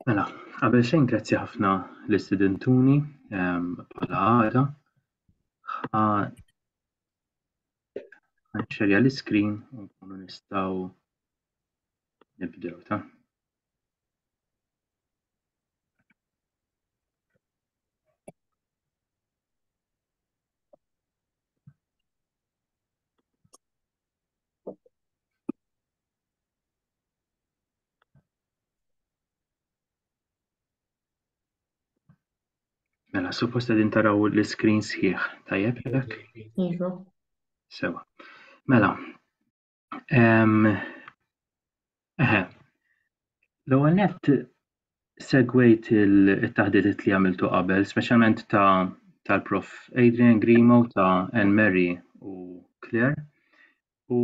Mela, qabel xejn grazzi ħafna l-istudentuni ehm, bħala għada. Għanċerja l-iskrin u nkunu nistaw nibdew ta' Mela, suppost għedin taraw l-screen sħiħ, tajjeb jek? Iva. Sewa. Mela, Eħe. L-ewwel nett segwejt it-taħditiet li għamiltu qabel, speċjalment ta' tal-Prof Adrian Grimo ta' Anne Mary u Claire. U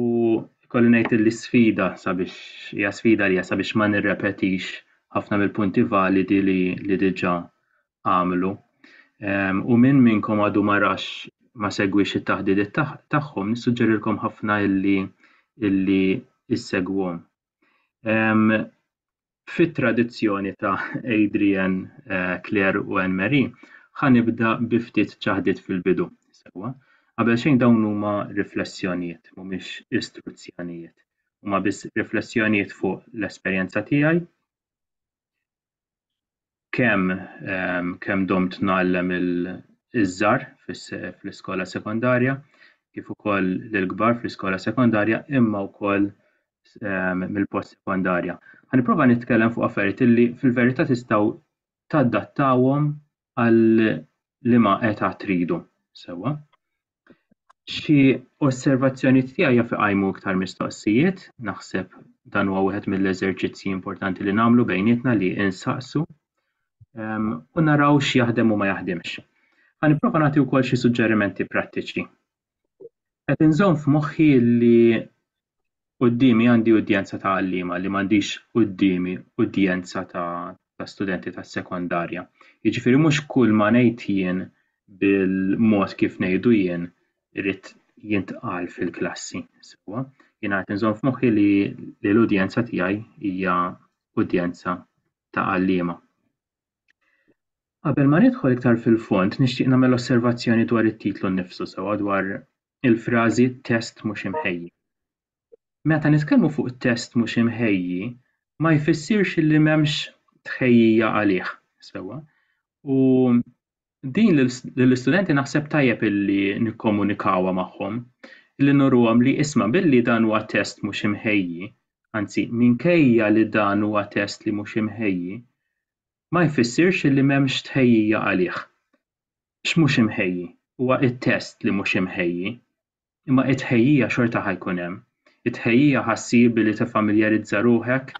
kolli ngħid li sfida sabiex hija sfida li sabiex ma nirrepetix ħafna mill-punti validi li li diġà għamlu. U min minnkom għadu ma rax ma segwix it-taħdidiet tagħhom, nissuġġerilkom ħafna illi illi issegwhom. Fit-tradizzjoni ta' Adrian, eh, Claire u Anne Marie, ħanibda bi ftit ċaħdiet fil-bidu. Sewa, qabel xejn dawn huma riflessjonijiet, mhumiex istruzzjonijiet. Huma biss riflessjonijiet fuq l-esperjenza tiegħi kemm ehm, kemm domt ngħallem iż-żar fl-iskola sekondarja kif ukoll l-kbar fl-iskola sekondarja imma wkoll ehm, mill-post sekondarja. Ħaniprofa nitkellem fuq affarijiet li fil-verità tistgħu tadattawhom għal liema età tridu sewwa. Xi osservazzjonijiet tiegħi jaf iqajmu iktar mistoqsijiet, naħseb dan huwa wieħed mill-eżerċizzji importanti li nagħmlu bejnietna li insaqsu ehm, u naraw x'jaħdem u ma jaħdimx. Ħa nipprova nagħti wkoll xi suġġerimenti prattiċi Qed inżomm f'moħħi li quddiemi għandi udjenza ta' għalliema li m'għandix quddiemi udjenza ta' ta' studenti ta' sekondarja. Jiġifieri mhux kull ma ngħid jien bil-mod kif ngħidu jien irid jintqal fil-klassi sewwa. Jiena qed inżomm f'moħħi li li l-udjenza tiegħi hija udjenza ta' għalliema. Qabel ma nidħol iktar fil-fond, nixtieq nagħmel osservazzjoni dwar it-titlu nnifsu sewwa dwar il-frażi test mhux imħejji. Meta nitkellmu fuq test mhux imħejji, ma jfissirx li m'hemmx tħejjija għalih sewwa u din lill-istudenti naħseb tajjeb illi nikkomunikawha magħhom, illi nuruhom li isma' billi dan huwa test mhux imħejji, anzi minkejja li dan huwa test li mhux imħejji, ma jfissirx illi m'hemmx tħejjija għalih. X'mhux imħejji? Huwa t-test li mhux imħejji, Imma t-tħejjija xorta ħa jkun hemm. It-tħejjija ħa ssir billi tiffamiljarizza ruħek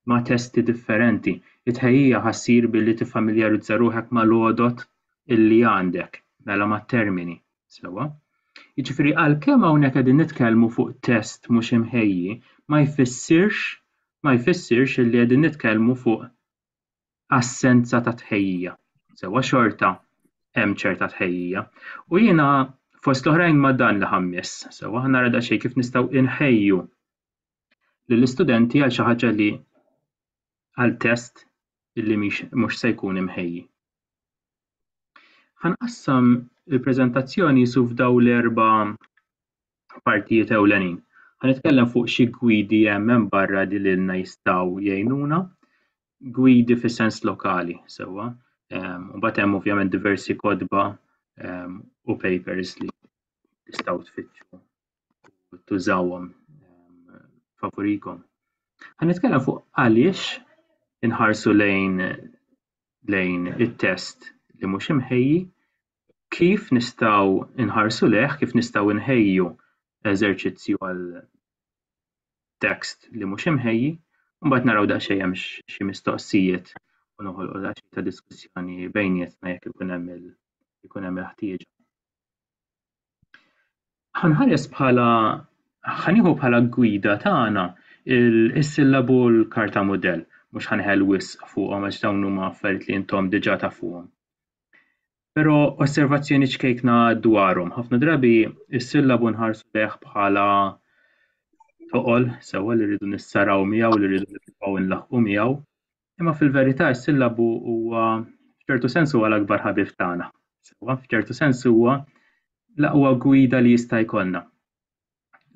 ma' testi differenti. It-tħejjija ħa ssir billi tiffamiljarizza ruħek mal-għodod illi għandek, mela mat-termini. Sewwa? Jiġifieri għalkemm hawnhekk qegħdin nitkellmu fuq test mhux imħejji, ma jfissirx ma jfissirx illi qegħdin nitkellmu fuq assenza ta' tħejjija. Sewa xorta hemm ċerta tħejjija. U jiena fost l-oħrajn ma' dan li ħammis, sewa ħna rada xejn kif nistgħu inħejju lill-istudenti għal xi ħaġa li għal test illi mhux se jkun imħejji. Ħanqassam il-preżentazzjoni su f'daw l-erba' partijiet ewlenin. Ħanitkellem fuq xi gwidi hemm hemm barra li lilna jistgħu jgħinuna, gwidi fis sens lokali sewwa. Ehm, u mbagħad hemm ovvjament diversi kodba ehm, u papers li tistgħu tfittxu u tużawhom ehm, favurikom. Ħanitkellem fuq għaliex inħarsu lejn lejn it-test li mhux imħejji kif nistgħu nħarsu lejh, kif nistgħu nħejju eżerċizzju għal tekst li mhux imħejji, mbagħad naraw daqsxejn hemm xi mistoqsijiet u noħolqu daqsxejn ta' diskussjoni bejnietna jekk ikun hemm il-ħtieġa. Ħanħares bħala ħanieħu bħala gwida tagħna is-sillabu u l-karta mudell. Mhux ħanħel wisq fuqhom għax dawn huma affarijiet li intom diġà tafuhom. Però osservazzjoni ċkejkna dwarhom. Ħafna drabi is-sillabu nħarsu lejh bħala toqol sewwa li rridu nissaraw miegħu li rridu nibqgħu nlaħqu miegħu. Imma fil-verità s-sillabu huwa f'ċertu sens huwa l-akbar ħabib tagħna. Sewwa, f'ċertu sens huwa l-aqwa gwida li jista' jkollna.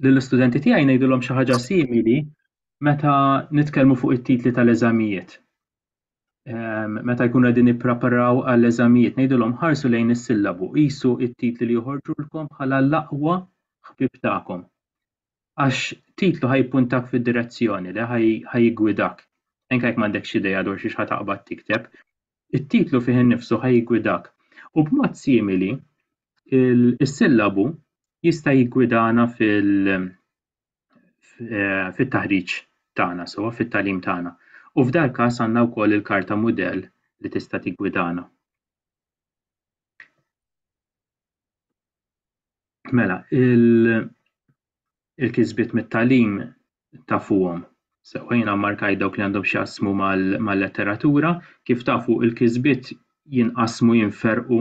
Lill-istudenti tiegħi ngħidulhom xi ħaġa simili meta nitkellmu fuq it-titli tal-eżamijiet. Ehm, meta jkunu qegħdin nippreparaw għall-eżamijiet ngħidulhom ħarsu lejn is-sillabu, qisu t-titli li joħorġulkom bħala l-aqwa ħbib tagħkom. għax titlu ħa jippuntak fid-direzzjoni le, ħa jiggwidak. Anke jekk m'għandekx idea dwar xiex ħa taqbad tikteb, it-titlu fih innifsu ħa jiggwidak. U b'mod simili, is-sillabu jista' jiggwidana fit-taħriġ tagħna sewwa, fit-tagħlim tagħna. U f'dal-każ għandna wkoll il-karta mudell li tista' tiggwidana. Mela, il-kisbiet mit-talim tafuhom. Sewħejna markaj dawk li għandhom xjaqsmu mal-letteratura, kif tafu il-kisbiet jinqasmu jinferqu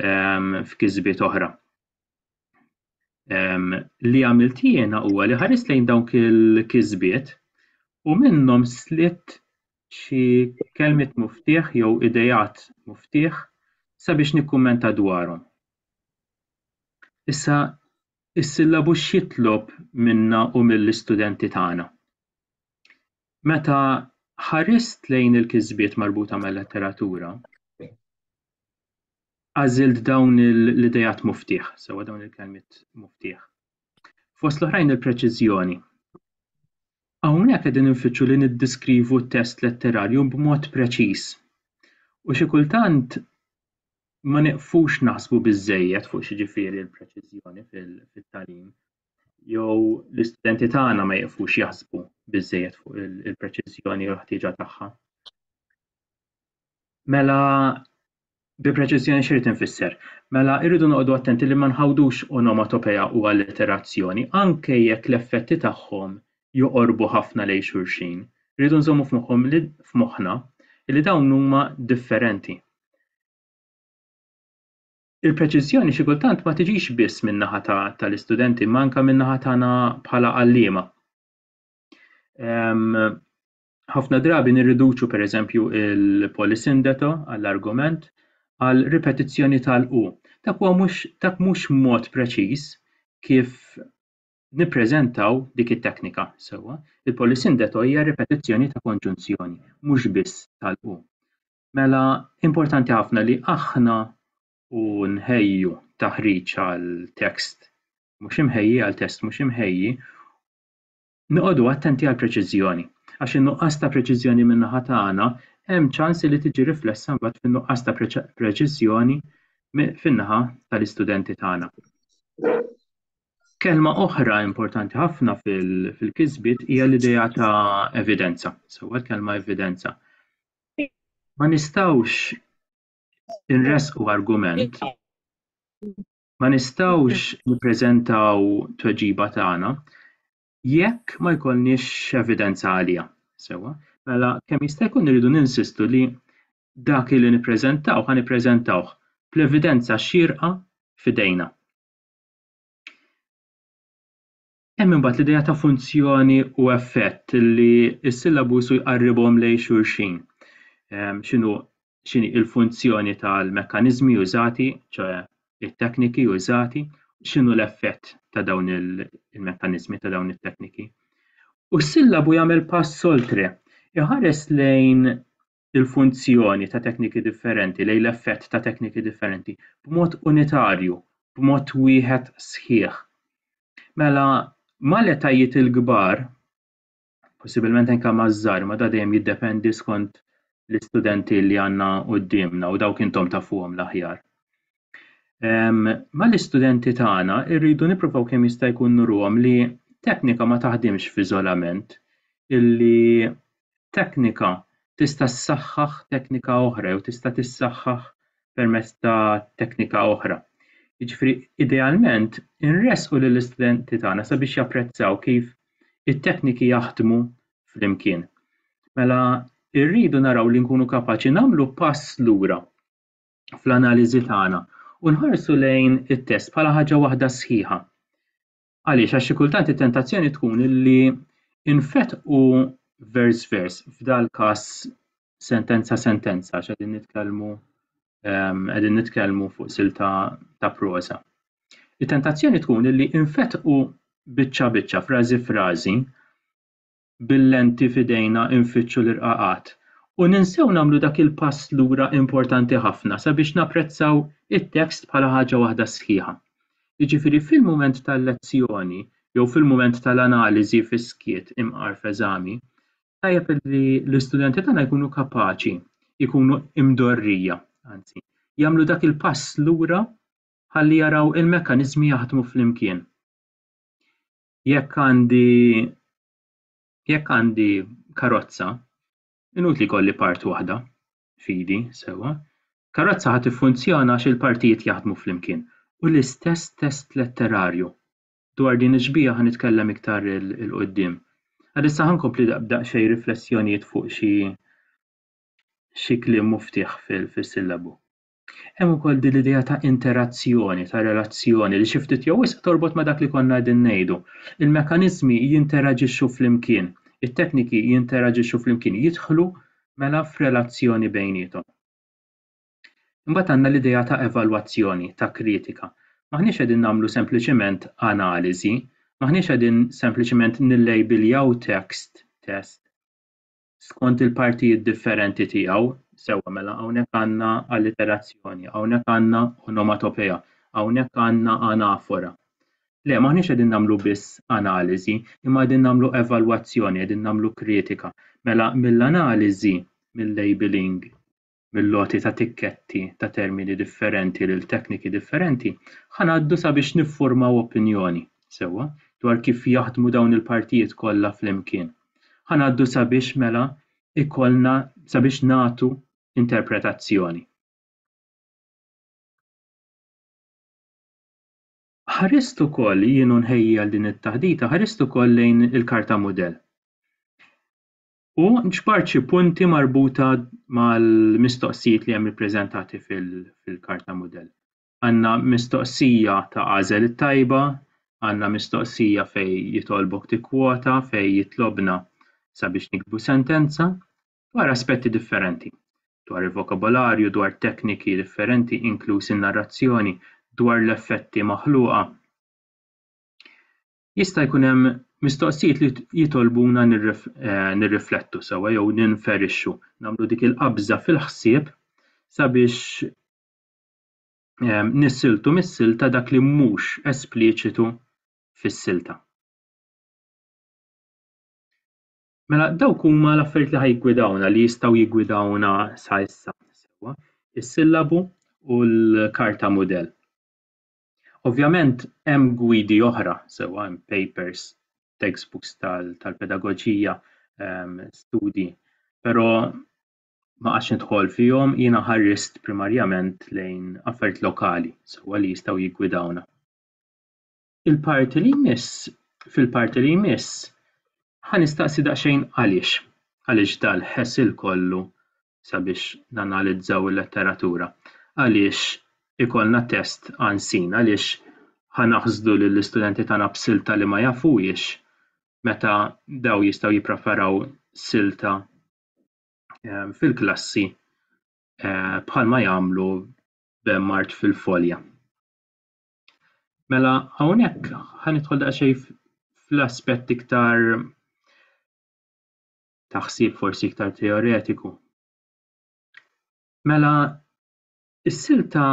ehm, f'kisbiet oħra. Ehm, li għamilt jiena huwa li ħarist lejn dawk il-kisbiet u minnhom slitt xi kelmiet muftieħ jew ideat muftieħ sabiex nikkummenta dwarhom. Issa, is-sillabu x'jitlob minna u mill-istudenti tagħna? Meta ħarist lejn il-kisbiet marbuta mal-letteratura, għażilt dawn l-ideat muftieħ, sewwa dawn il-kelmiet muftieħ. Fost l-oħrajn il-preċiżjoni. Hawnhekk qegħdin infittxu li niddiskrivu t-test letterarju b'mod preċiż u xi kultant ma nieqfux naħsbu biżżejjed fuq x'jiġifieri l-preċiżjoni fit-tagħlim jew l-istudenti tagħna ma jieqfux jaħsbu biżżejjed fuq il-preċiżjoni u l-ħtieġa tagħha. Mela Bi preċiżjoni x'irid infisser? Mela irridu noqogħdu attenti li ma nħawdux onomatopeja u allitterazzjoni, anke jekk l-effetti tagħhom joqorbu ħafna lejn xulxin. Irridu nżommu f'moħħhom li f'moħħna li dawn huma differenti. Il-preċiżjoni xi kultant ma tiġix biss min-naħa tal-istudenti imma anke min-naħa tagħna bħala għalliema. ħafna drabi nirriduċu pereżempju l-polisindeto għall-argument għal ripetizzjoni tal-u. Dak huwa mhux dak mhux mod preċiż kif nippreżentaw dik it-teknika sewwa. Il-polisindeto hija ripetizzjoni ta' konġunzjoni, mhux biss tal-u. Mela importanti ħafna li aħna u nħejju taħriġ għal tekst mhux imħejji għal test mhux imħejji Noqogħdu attenti għall-preċiżjoni, għax in-nuqqas ta' preċiżjoni min-naħa tagħna hemm ċans li tiġi riflessa mbagħad fin-nuqqas ta' preċiżjoni fin-naħa tal-istudenti tagħna. Kelma oħra importanti ħafna fil-kisbiet hija l-idea ta' evidenza, sewwa l-kelma evidenza. Ma nistgħux inresqu argument Ma nistgħux nippreżentaw tweġiba tagħna jekk ma jkollniex evidenza għaliha. Sewwa, mela kemm jista' jkun irridu ninsistu li dak li nippreżentaw ħa nippreżentawh bl-evidenza xierqa f'idejna. Hemm imbagħad l-idea ta' funzjoni u effett li s-sillabu su jqarribhom lejn xulxin. Ehm, x'inhu x'inhi l-funzjoni tal-mekkaniżmi użati, ċoe it-tekniki użati, x'inhu l-effett ta' dawn il-mekkaniżmi ta' dawn it-tekniki. U s-sillabu jagħmel pass oltre, iħares lejn il-funzjoni ta' tekniki differenti lejn l-effett ta' tekniki differenti b'mod unitarju, b'mod wieħed sħiħ. Mela, mal-etajiet il-kbar, possibilment anke maż-żgħar, ma da dejjem jiddependi skont l-istudenti li għandna quddiemna u dawk intom tafuhom l-aħjar. Ehm, mal-istudenti tagħna rridu nippruvaw kemm jista' jkun nuruhom li teknika ma taħdimx f'iżolament, illi teknika tista' ssaħħaħ teknika oħra jew tista' tissaħħaħ permezz ta' teknika oħra. Jiġifieri idealment inressqu lill-istudenti tagħna sabiex japprezzaw kif it-tekniki jaħdmu flimkien. Mela rridu naraw li nkunu kapaċi nagħmlu pass lura fl-analiżi tagħna u nħarsu lejn it-test bħala ħaġa waħda sħiħa. Għaliex? Għax xi kultant it-tentazzjoni tkun li infetqu vers vers, f'dal każ sentenza sentenza, għax qegħdin nitkellmu ehm, qegħdin nitkellmu fuq silta ta' prosa. It-tentazzjoni tkun li infetqu biċċa biċċa, frażi frażi, bil-lenti f'idejna nfittxu l-irqaqat u ninsew nagħmlu dak il-pass lura importanti ħafna sabiex napprezzaw it-tekst bħala ħaġa waħda sħiħa. Jiġifieri fil-mument tal-lezzjoni jew fil-mument tal-analiżi fis-skiet imqar f'eżami, tajjeb li l-istudenti tagħna jkunu kapaċi, jkunu imdorrija, anzi, jagħmlu dak il-pass lura ħalli jaraw il-mekkaniżmi jaħdmu flimkien. Jekk għandi jekk għandi karozza, inutli jkolli part waħda fidi, sewwa. Karozza ħa tiffunzjona għax il-partijiet jaħdmu flimkien. U l-istess test letterarju. Dwar din ix-xbieha ħa nitkellem iktar il-qudiem. Għalissa ħa nkompli daqsxejn riflessjonijiet fuq xi xi kliem muftieħ fis-sillabu. Hemm ukoll din l-idea ta' interazzjoni, ta' relazzjoni li xi ftit jew wisq torbot ma' dak li konna qegħdin ngħidu. Il-mekkaniżmi jinteraġixxu flimkien, it-tekniki jinteraġixxu flimkien, jidħlu mela f'relazzjoni bejniethom. Imbagħad għandna l-idea ta' evalwazzjoni, ta' kritika. M'aħniex qegħdin nagħmlu sempliċiment analiżi, m'aħniex qegħdin sempliċiment nillejbiljaw tekst, test. skont il-partijiet differenti tiegħu, sewwa mela hawnhekk għandna alliterazzjoni, hawnhekk għandna onomatopea, hawnhekk għandna anafora. Le, m'aħniex qegħdin nagħmlu biss analiżi, imma qegħdin nagħmlu evalwazzjoni, qegħdin nagħmlu kritika. Mela mill-analiżi, mill-labeling, mill-għoti ta' tikketti ta' termini differenti lil tekniki differenti, ħa ngħaddu sabiex niffurmaw opinjoni, sewwa, dwar kif jaħdmu dawn il-partijiet kollha flimkien. Ħa ngħaddu sabiex mela ikollna sabiex nagħtu interpretazzjoni. Ħarist ukoll jien u nħejji għal din it-taħdita, ħarist ukoll lejn il-karta mudell. U ġbart xi punti marbuta mal-mistoqsijiet li hemm ippreżentati fil-karta mudell. Għandna mistoqsija ta' għażel it-tajba, għandna mistoqsija fej jitolbok tikkwota, fej jitlobna sabiex nikbu sentenza, dwar aspetti differenti, dwar il-vokabolarju, dwar tekniki differenti, inkluż in-narrazzjoni, dwar l-effetti maħluqa. jista' jkun hemm mistoqsijiet li jitolbuna nirriflettu sewwa jew ninferixxu, nagħmlu dik il-qabża fil-ħsieb sabiex ehm, nissiltu mis-silta dak li mhux espliċitu fis-silta. Mela dawk huma l-affarijiet li ħajgwidawna li jistgħu jigwidawna sa issa sewwa, is-sillabu u l-karta mudell. Ovvjament hemm gwidi oħra sewwa hemm papers, textbooks tal-pedagoġija, ehm, studji, però ma qgħadtx nidħol fihom, jiena ħarist primarjament lejn affarijiet lokali sewwa li jistgħu jiggwidawna. Il-parti li jmiss, fil-parti li jmiss, ħa nistaqsi daqsxejn għaliex, għaliex dal-ħesil kollu sabiex nanalizzaw il-letteratura. Għaliex ikollna test għansin, għaliex ħa naħsdu lill-istudenti tagħna b'silta li ma jafuhiex meta daw jistgħu jippreparaw silta ehm, fil-klassi eh, bħalma jagħmlu b'mart fil-folja. Mela hawnhekk ħanidħol daqsxejn fl-aspett iktar ta' ħsieb forsi iktar teoretiku. Mela, is-silta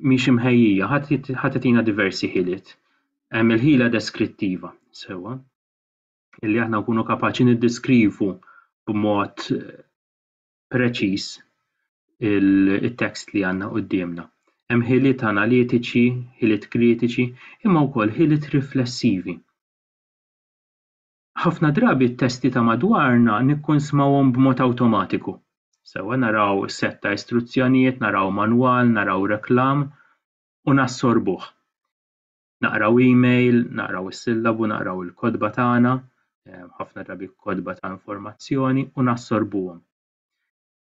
mhix imħejjija, ħadd itina diversi ħiliet. Hemm il-ħila deskrittiva, sewwa, illi aħna nkunu kapaċi niddeskrivu b'mod eh, preċiż il-tekst li għandna quddiemna. Hemm ħiliet analitiċi, ħiliet kritiċi, imma wkoll ħiliet riflessivi. Ħafna drabi t-testi ta' madwarna nikkunsmawhom b'mod awtomatiku. Sewwa naraw sett ta' istruzzjonijiet, naraw manwal, naraw reklam, u nassorbuh. Naqraw email, naqraw is-sillabu, naqraw il-kotba tagħna, ħafna drabi kotba ta' informazzjoni, u nassorbuhom.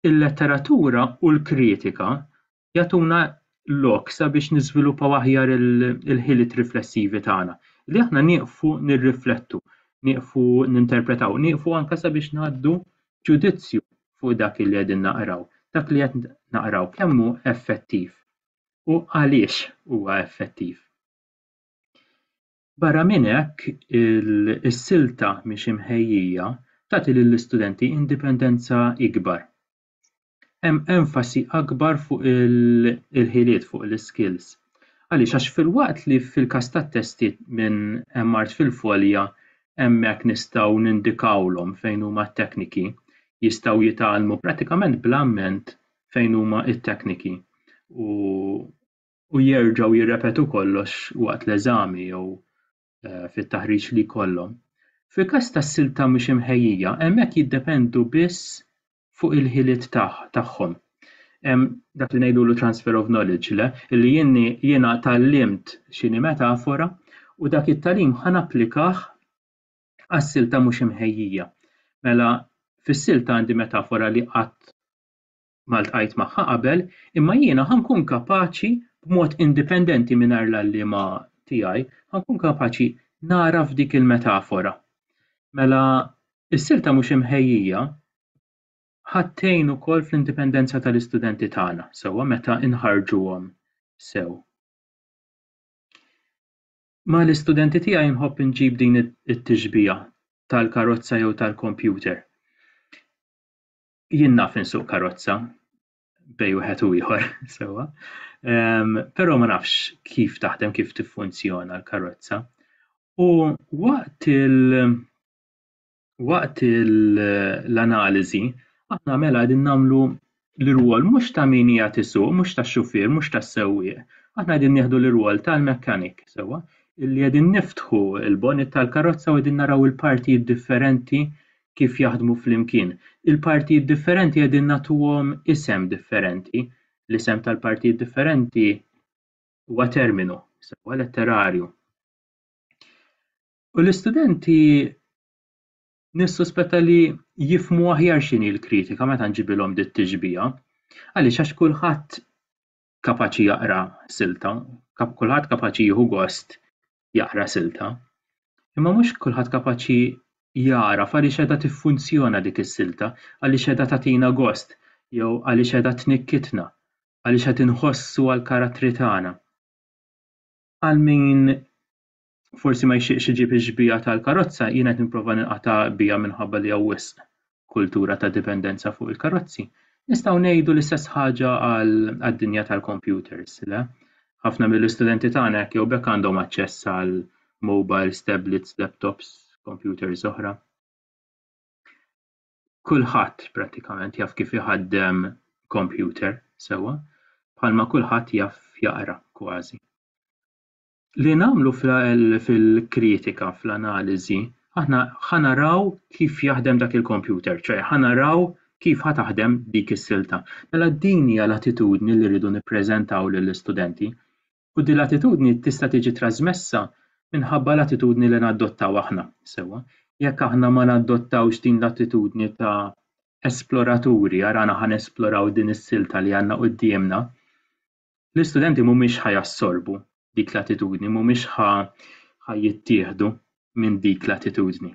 Il-letteratura u l-kritika jagħtuna lok sabiex niżviluppaw aħjar il-ħiliet riflessivi tagħna, li aħna nieqfu nirriflettu, nieqfu ninterpretaw, nieqfu anke sabiex ngħaddu ġudizzju fuq dak li qegħdin naqraw, dak li qed naqraw kemm hu effettiv u għaliex huwa effettiv. Barra minn hekk, is-silta mhix imħejjija tagħti lill-istudenti indipendenza ikbar. Hemm enfasi akbar fuq il-ħiliet, fuq l-iskills. Għaliex? Għax filwaqt li fil-każ tat-testi minn hemm art fil-folja hemmhekk nistgħu nindikawlhom fejn huma t-tekniki, jistgħu jitgħallmu prattikament bl-amment fejn huma t-tekniki u u jerġgħu jirrepetu kollox waqt l-eżami jew fit-taħriġ li jkollhom. Fil-każ ta' silta mhux imħejjija, hemmhekk jiddependu biss fuq il-ħiliet tagħhom. Hemm dak li ngħidulu transfer of knowledge, le, li jieni jiena tgħallimt x'inhi metafora u dak it-tagħlim ħa napplikah għas-silta mhux imħejjija. Mela fis-silta għandi metafora li qatt ma ltqajt magħha qabel, imma jiena ħa nkun kapaċi b'mod indipendenti mingħajr l-għalliema tiegħi, ħa nkun kapaċi nagħraf dik il-metafora. Mela, is-silta mhux imħejjija ħa tgħin ukoll fl-indipendenza tal-istudenti tagħna, sewwa meta nħarrġuhom sew. Ma' l-istudenti tiegħi nħobb inġib din it-tixbiha tal-karozza jew tal-kompjuter. jien naf insuq karozza bej wieħed u ieħor sewwa. Um, Però ma nafx kif taħdem, kif tiffunzjona l-karozza. U waqt il- waqt l-analiżi aħna mela qegħdin nagħmlu l-irwol mhux ta' min hija tisuq, mhux ta' xufier, mhux ta' sewwieq. Aħna qegħdin nieħdu l-irwol tal-mekkanik sewwa illi qegħdin niftħu l-bonit tal-karozza u qegħdin naraw il-partijiet differenti kif jaħdmu flimkien. Il-partijiet differenti qegħdin nagħtuhom isem differenti. L-isem tal-partijiet differenti huwa terminu, sewwa letterarju. U l-istudenti nissuspetta li jifmu aħjar x'inhi l-kritika meta nġibilhom dit-tixbiha. Għaliex għax kulħadd kapaċi jaqra silta, kulħadd kapaċi jieħu gost jaqra silta, imma mhux kulħadd kapaċi jara għaliex qiegħda tiffunzjona dik is-silta, għaliex qiegħda tagħtina gost jew għaliex qiegħda tnikkitna, għaliex qed inħossu għall-karattri tagħna. Għal min forsi ma jxieqx iġib ix-xbieha tal-karozza, jien qed nipprova ninqata' biha minħabba li hawn wisq kultura ta' dipendenza fuq il-karozzi. Nistgħu ngħidu l-istess ħaġa għad-dinja tal-kompjuters, le? Ħafna mill-istudenti tagħna hekk jew b'hekk għandhom aċċess għal mobiles, tablets, laptops, kompjuters oħra. Kulħadd prattikament jaf kif iħaddem kompjuter sewwa, bħalma kulħadd jaf jaqra kważi. li nagħmlu fil-kritika, fl-analiżi, aħna ħa naraw kif jaħdem dak il-kompjuter, ċoe ħa naraw kif ħa taħdem dik is-silta. Mela din hija l-attitudni li rridu nippreżentaw lill-istudenti u din l-attitudni tista' tiġi trasmessa minħabba l-attitudni li nadottaw aħna, sewwa. Jekk aħna ma nadottawx din l-attitudni ta' esploraturi, arana ħa nesploraw din is-silta li għandna quddiemna, l-istudenti mhumiex ħa jassorbu dik l-attitudni, mhumiex ħa ħa jittieħdu minn dik l-attitudni.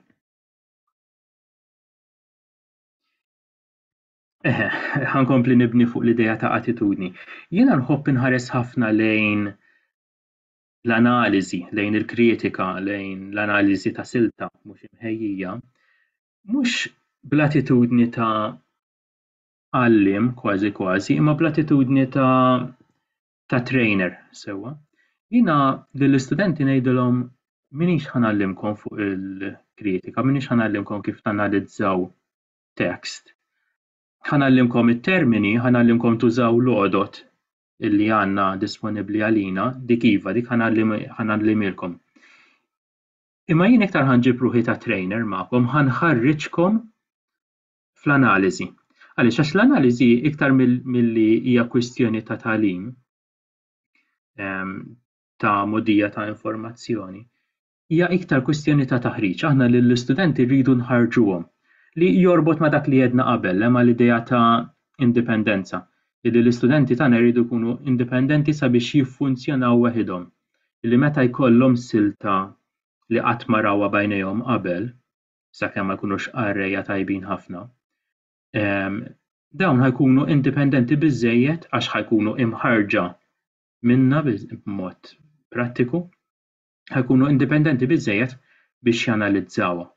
Eħe, ħankompli nibni fuq l-ideja ta' attitudni. Jiena nħobb inħares ħafna lejn l-analiżi, lejn il-kritika, lejn l-analiżi ta' silta mhux imħejjija, mhux bl-attitudni ta' għalliem kważi kważi imma bl-attitudni ta' trainer sewwa. Jiena lill-istudenti ngħidilhom minix ħanallimkom fuq il-kritika, minix ħanallimkom kif tanalizzaw tekst. Ħanallimkom it-termini, ħanallimkom tużaw l-għodod li għandna disponibbli għalina, dik iva, dik ħanallimilkom. Imma jien iktar ħanġib ruħi ta' trainer magħkom, ħanħarriġkom fl-analiżi. Għaliex għax l-analiżi iktar milli hija kwistjoni ta' talim ehm, ta' modija ta' informazzjoni, hija iktar kwistjoni ta' taħriġ. Aħna lill-istudenti rridu nħarġuhom li jorbot ma' dak li jedna qabel hemm l-idea ta' indipendenza li l-istudenti tagħna jridu jkunu indipendenti sabiex jiffunzjonaw waħidhom. Li meta jkollhom silta li qatt ma rawha bajnejhom qabel, sakemm ma jkunux qarrejja tajbin ħafna, dawn ħajkunu indipendenti biżżejjed għax ħajkunu imħarrġa minna b'mod prattiku, ħajkunu indipendenti biżżejjed biex janalizzawha.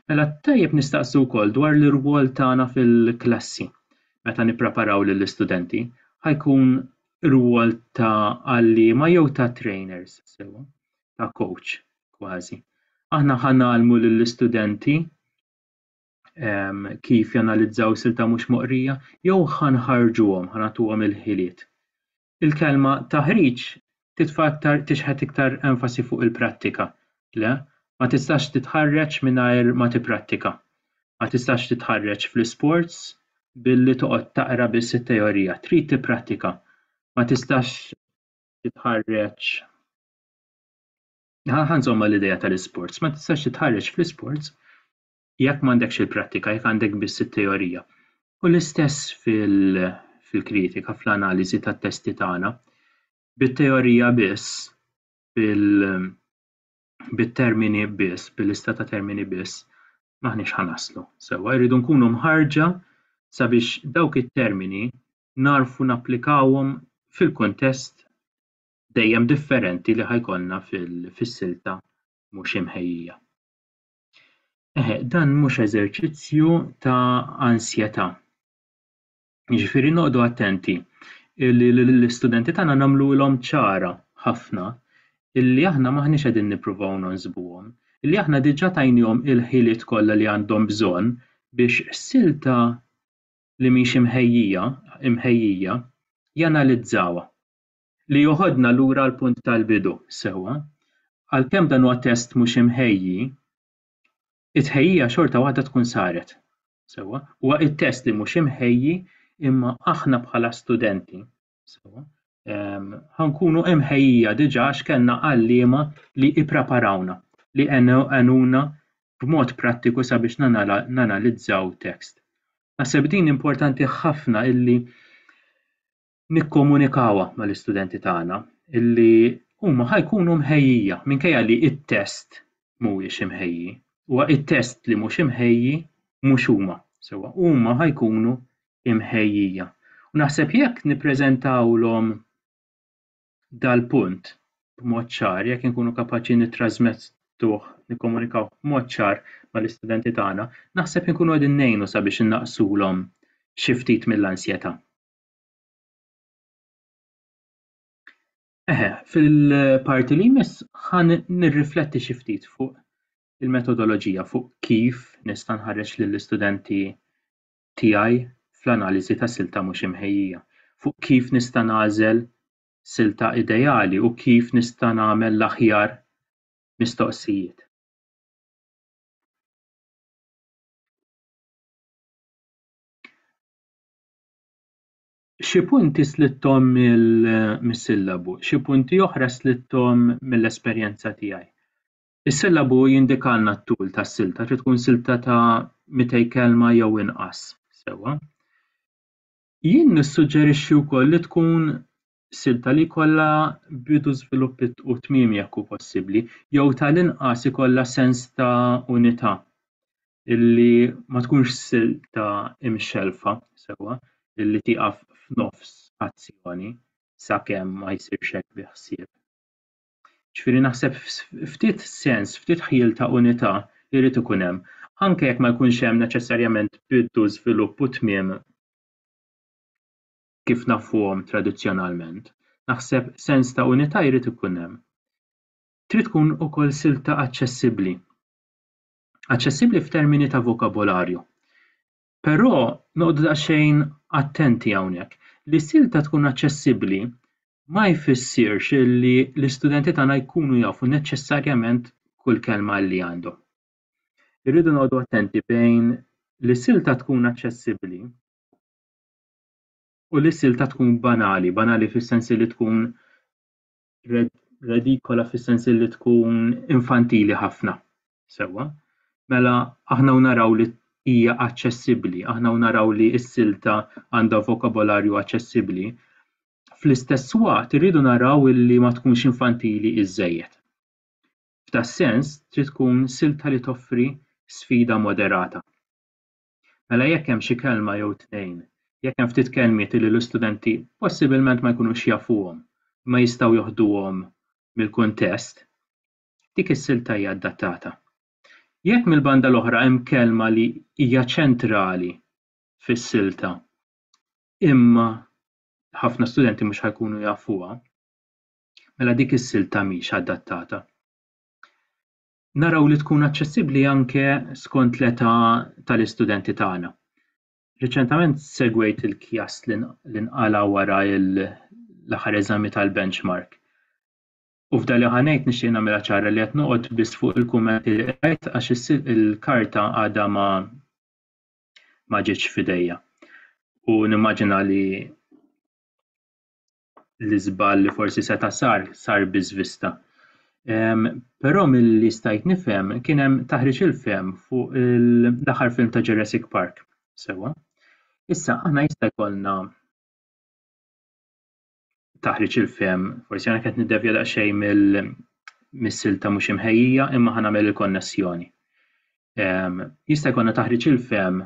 Mela tajjeb nistaqsu wkoll dwar l-irwol tagħna fil-klassi meta nippreparaw lill-istudenti, ħajkun rwol ta' għalliema jew ta' trainers sewwa, ta' coach. kważi. Aħna ħa nagħlmu lill-istudenti ehm, kif janalizzaw silta mhux moqrija jew ħa nħarġuhom, ħa nagħtuhom il-ħiliet. Il-kelma taħriġ titfa' iktar tixħet iktar enfasi fuq il-prattika. Le, ma tistax titħarreġ mingħajr ma tipprattika. Ma tistax titħarreġ fl-isports billi toqgħod taqra biss it-teorija, trid tipprattika. Ma tistax titħarreġ Ħanżomm mal-idea tal-isports, ma tistax titħarreġ fl-isports jekk m'għandekx il-prattika, jekk għandek biss it-teorija. U l-istess fil-kritika, fl-analiżi tat-testi tagħna. Bit-teorija biss, bit-termini biss, bil-lista ta' termini biss, maħniex ħanaslu. Sewwa jridu nkunu mħarġa sabiex dawk it-termini narfu napplikawhom fil-kuntest dejjem differenti li ħa jkollna fis-silta mhux imħejjija. Eħe, dan mhux eżerċizzju ta' ansjetà. Jiġifieri noqogħdu attenti li l-istudenti tagħna nagħmluhom ċara ħafna illi aħna m'aħniex qegħdin nippruvaw nonsbuhom, illi aħna diġà tajnihom il-ħiliet kollha li għandhom bżonn biex silta li mhix imħejjija imħejjija janalizzawha. li joħodna lura għall-punt tal-bidu. Sewwa, għalkemm dan huwa test mhux imħejji, it-tħejjija xorta waħda tkun saret. Sewwa, huwa t-test li mhux imħejji imma aħna bħala studenti, sewwa, ehm, ħa nkunu imħejjija diġà għax kellna għalliema li ippreparawna, li għenuna b'mod prattiku sabiex nanalizzaw tekst. Naħseb din importanti ħafna illi nikkomunikawha mal-istudenti tagħna li huma ħa jkunu mħejjija minkejja li t-test mhuwiex imħejji. Huwa t-test li mhux imħejji mhux huma, sewwa huma ħa jkunu imħejjija. U naħseb jekk nippreżentawlhom dal-punt b'mod ċar, jekk inkunu kapaċi nittrażmettuh, nikkomunikaw b'mod ċar mal-istudenti tagħna, naħseb inkunu qegħdin ngħinu sabiex innaqsulhom xi ftit mill-ansjetà. Eħe, fil-parti li jmiss ħan nirrifletti xi ftit fuq il-metodoloġija fuq kif nista' nħarreġ lill-istudenti tiegħi fl-analiżi ta' silta mhux imħejjija, fuq kif nista' nagħżel silta ideali u kif nista' nagħmel l-aħjar mistoqsijiet. Xi punti slitthom mis-sillabu, xi punti oħra slitthom mill-esperjenza tiegħi. Is-sillabu jindikalna t-tul tas-silta, trid tkun silta ta' 200 kelma jew inqas, sewwa. Jien nissuġġerixxi wkoll li tkun silta li jkollha bidu, żvilupp u tmiem jekk hu possibbli, jew tal-inqas ikollha sens ta' unità. illi ma tkunx silta imxellfa sewwa illi tieqaf f'nofs azzjoni sakemm ma jsirx hekk bi ħsieb. Ġifieri naħseb ftit sens, ftit ħjiel ta' unità jrid ikun hemm, anke jekk ma jkunx hemm neċessarjament bidu, żvilupp u tmiem kif nafuhom tradizzjonalment. Naħseb sens ta' unità jrid ikun hemm. Trid tkun ukoll silta aċċessibbli. aċċessibbli f'termini ta' vokabolarju. Però noqgħodu daqsxejn attenti hawnhekk. Li silta tkun aċċessibbli ma jfissirx li l-istudenti tagħna jkunu jafu neċessarjament kull kelma li għandhom. Irridu noqogħdu attenti bejn li silta tkun aċċessibbli u li silta tkun banali, banali fis-sens li tkun redikola fis-sens li tkun infantili ħafna. Sewwa, mela aħna naraw li hija aċċessibbli, aħna naraw li s-silta għandha vokabolarju aċċessibbli. Fl-istess waqt irridu naraw li ma tkunx infantili iżejjed. F'tas sens trid tkun silta li toffri sfida moderata. Mela jekk hemm xi kelma jew tnejn, jekk hemm ftit kelmiet illi l-istudenti possibilment ma jkunux jafuhom, imma jistgħu joħduhom mill-kuntest, dik is-silta hija adattata. Jekk mill-banda l-oħra hemm kelma li hija ċentrali fis-silta imma ħafna studenti mhux ħajkunu jafuha, mela dik is-silta mhix adattata. naraw li tkun aċċessibbli anke skont l-età tal-istudenti tagħna. Riċentament segwejt il-kjast li nqala' wara l-aħħar eżami tal-benchmark. U f'dali ħanejt nixtieq nagħmilha ċara li qed noqgħod biss fuq il-kummenti li qrajt għax il-karta għadha ma ma ġietx f'idejja. U nimmaġina li l-iżball li forsi seta' sar, sar biżvista. Però milli stajt nifhem kien hemm taħriġ il-fehem fuq l-aħħar film ta' Jurassic Park. Sewwa. Issa aħna jista' jkollna taħriġ il-fehem, forsi għana qed niddevja daqsxejn mill-missil ta' mhux imħejjija imma ħanagħmel il-konnessjoni. Jista' jkollna taħriġ il-fehem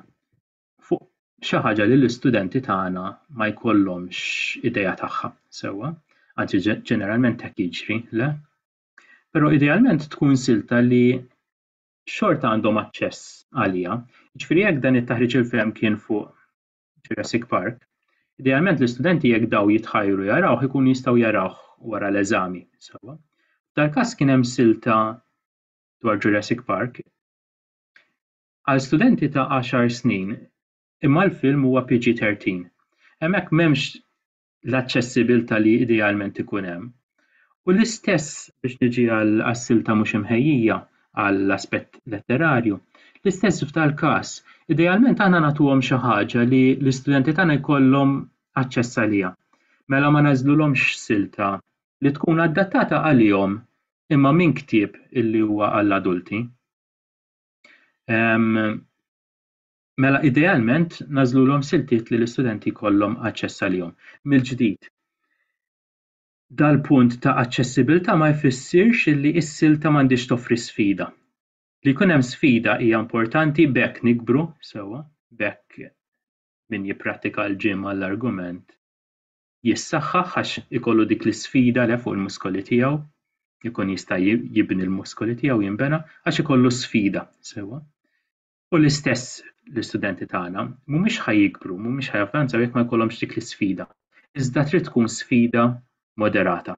fuq xi ħaġa li l-istudenti tagħna ma jkollhomx idea tagħha sewwa, anzi ġeneralment hekk jiġri, le? Però idealment tkun silta li xorta għandhom aċċess għaliha. Ġifieri jekk dan it-taħriġ il-fehem kien fuq Jurassic Park, idealment l-istudenti jekk daw jitħajru jarawh ikun jistgħu jarawh wara l-eżami. Sewa. Dal-każ kien hemm silta dwar Jurassic Park. Għal studenti ta' għaxar snin, imma l-film huwa PG-13. Hemmhekk m'hemmx l-aċċessibbiltà li idealment ikun hemm. U l-istess, biex niġi għas-silta mhux imħejjija għall-aspett letterarju, l-istess f'dal-każ, idealment aħna nagħtuhom xi ħaġa li l-istudenti tagħna jkollhom aċċess għaliha. Mela ma ngħażlulhomx silta li tkun adattata għalihom imma minn ktieb illi huwa għall-adulti. Mela idealment nażlulhom siltiet li l-istudenti jkollhom aċċess għalihom. Mill-ġdid, dal-punt ta' aċċessibilità ma jfissirx li s-silta m'għandhiex toffri sfida. Li jkun hemm sfida hija importanti b'hekk nikbru sewwa, b'hekk min jipprattika l-gym għall-argument jissaħħaħ għax ikollu dik l-isfida le fuq il-muskoli tiegħu, ikun jista' jibni l-muskoli tiegħu jinbena għax ikollu sfida sewwa. U l-istess l-istudenti tagħna mhumiex ħa jikbru, mhumiex ħa javvanzaw jekk ma jkollhomx dik l-isfida. Iżda trid tkun sfida moderata.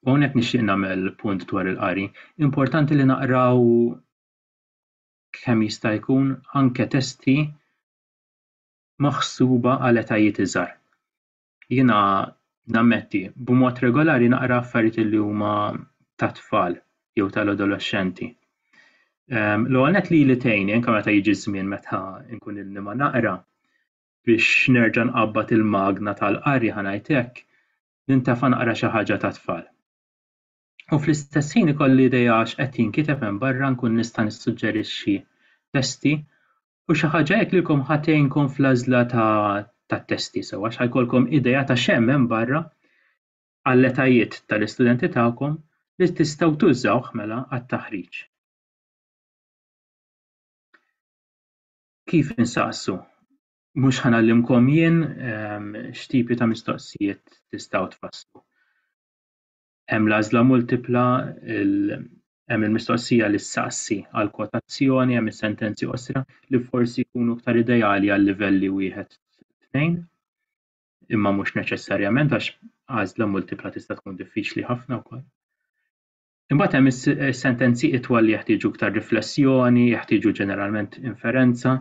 U hawnhekk nixtieq nagħmel punt dwar il-qari. Importanti li naqraw kemm jista' jkun anke testi maħsuba għal etajiet iżgħar. Jiena nammetti, b'mod regolari naqra affarijiet li huma tat-tfal jew tal-adolexxenti. Ehm, l-ewwel nett lili tgħinni anke meta jiġi żmien meta nkun ilni ma naqra biex nerġa' nqabbad il-magna tal-qari ħa ngħid hekk, nintefa' naqra xi ħaġa tat-tfal. u fl-istess ħin ikolli idea għax qed jinkiteb hemm barra nkun nista' nissuġġerixxi testi u xi ħaġa hekk lilkom ħatejnkom fl-għażla tat-testi sew għax ħajkolkom idea ta' x'hemm hemm barra għall-etajiet tal-istudenti tagħkom li tistgħu tużawh mela għat-taħriġ. Kif insaqsu? Mhux ħanallimkom jien ehm, x'tipi ta' mistoqsijiet tistgħu tfasslu. Hemm l-għażla multipla, hemm il-mistoqsija li ssaqsi għal kwotazzjoni, hemm is-sentenzi qosra li forsi jkunu iktar ideali għal livelli wieħed tnejn, imma mhux neċessarjament għax għażla multipla tista' tkun diffiċli ħafna wkoll. Imbagħad hemm is-sentenzi itwal li jeħtieġu iktar riflessjoni, jeħtieġu ġeneralment inferenza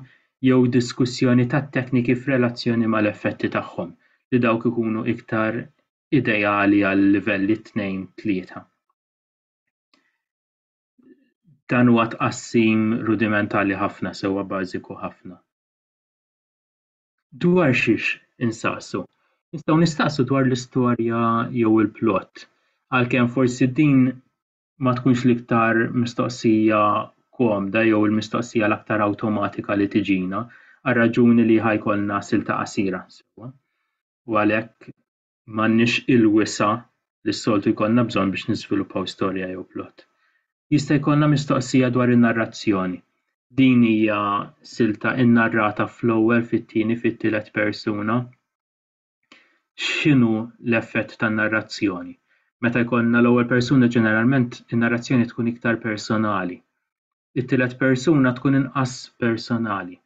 jew diskussjoni tat-tekniki f'relazzjoni mal-effetti tagħhom li dawk ikunu iktar ideali għal livelli 2, 3. Dan huwa tqassim rudimentali ħafna sewwa bażiku ħafna. Dwar xiex insaqsu? Nistgħu nistaqsu dwar l-istorja jew il-plot, għalkemm forsi din ma tkunx l-iktar mistoqsija komda jew il-mistoqsija l-aktar awtomatika li tiġina, għal raġuni li ħajkolna silta qasira sewwa. u għalhekk m'għandniex il-wisa' li s-soltu jkollna bżonn biex niżviluppaw storja jew plott. Jista' jkollna mistoqsija dwar in-narrazzjoni. Din hija silta nnarrata fl-ewwel, fit-tieni, fit-tielet persuna. X'inhu l-effett tan-narrazzjoni? Meta jkollna l-ewwel persuna ġeneralment in-narrazzjoni tkun iktar personali. It-tielet persuna tkun inqas personali.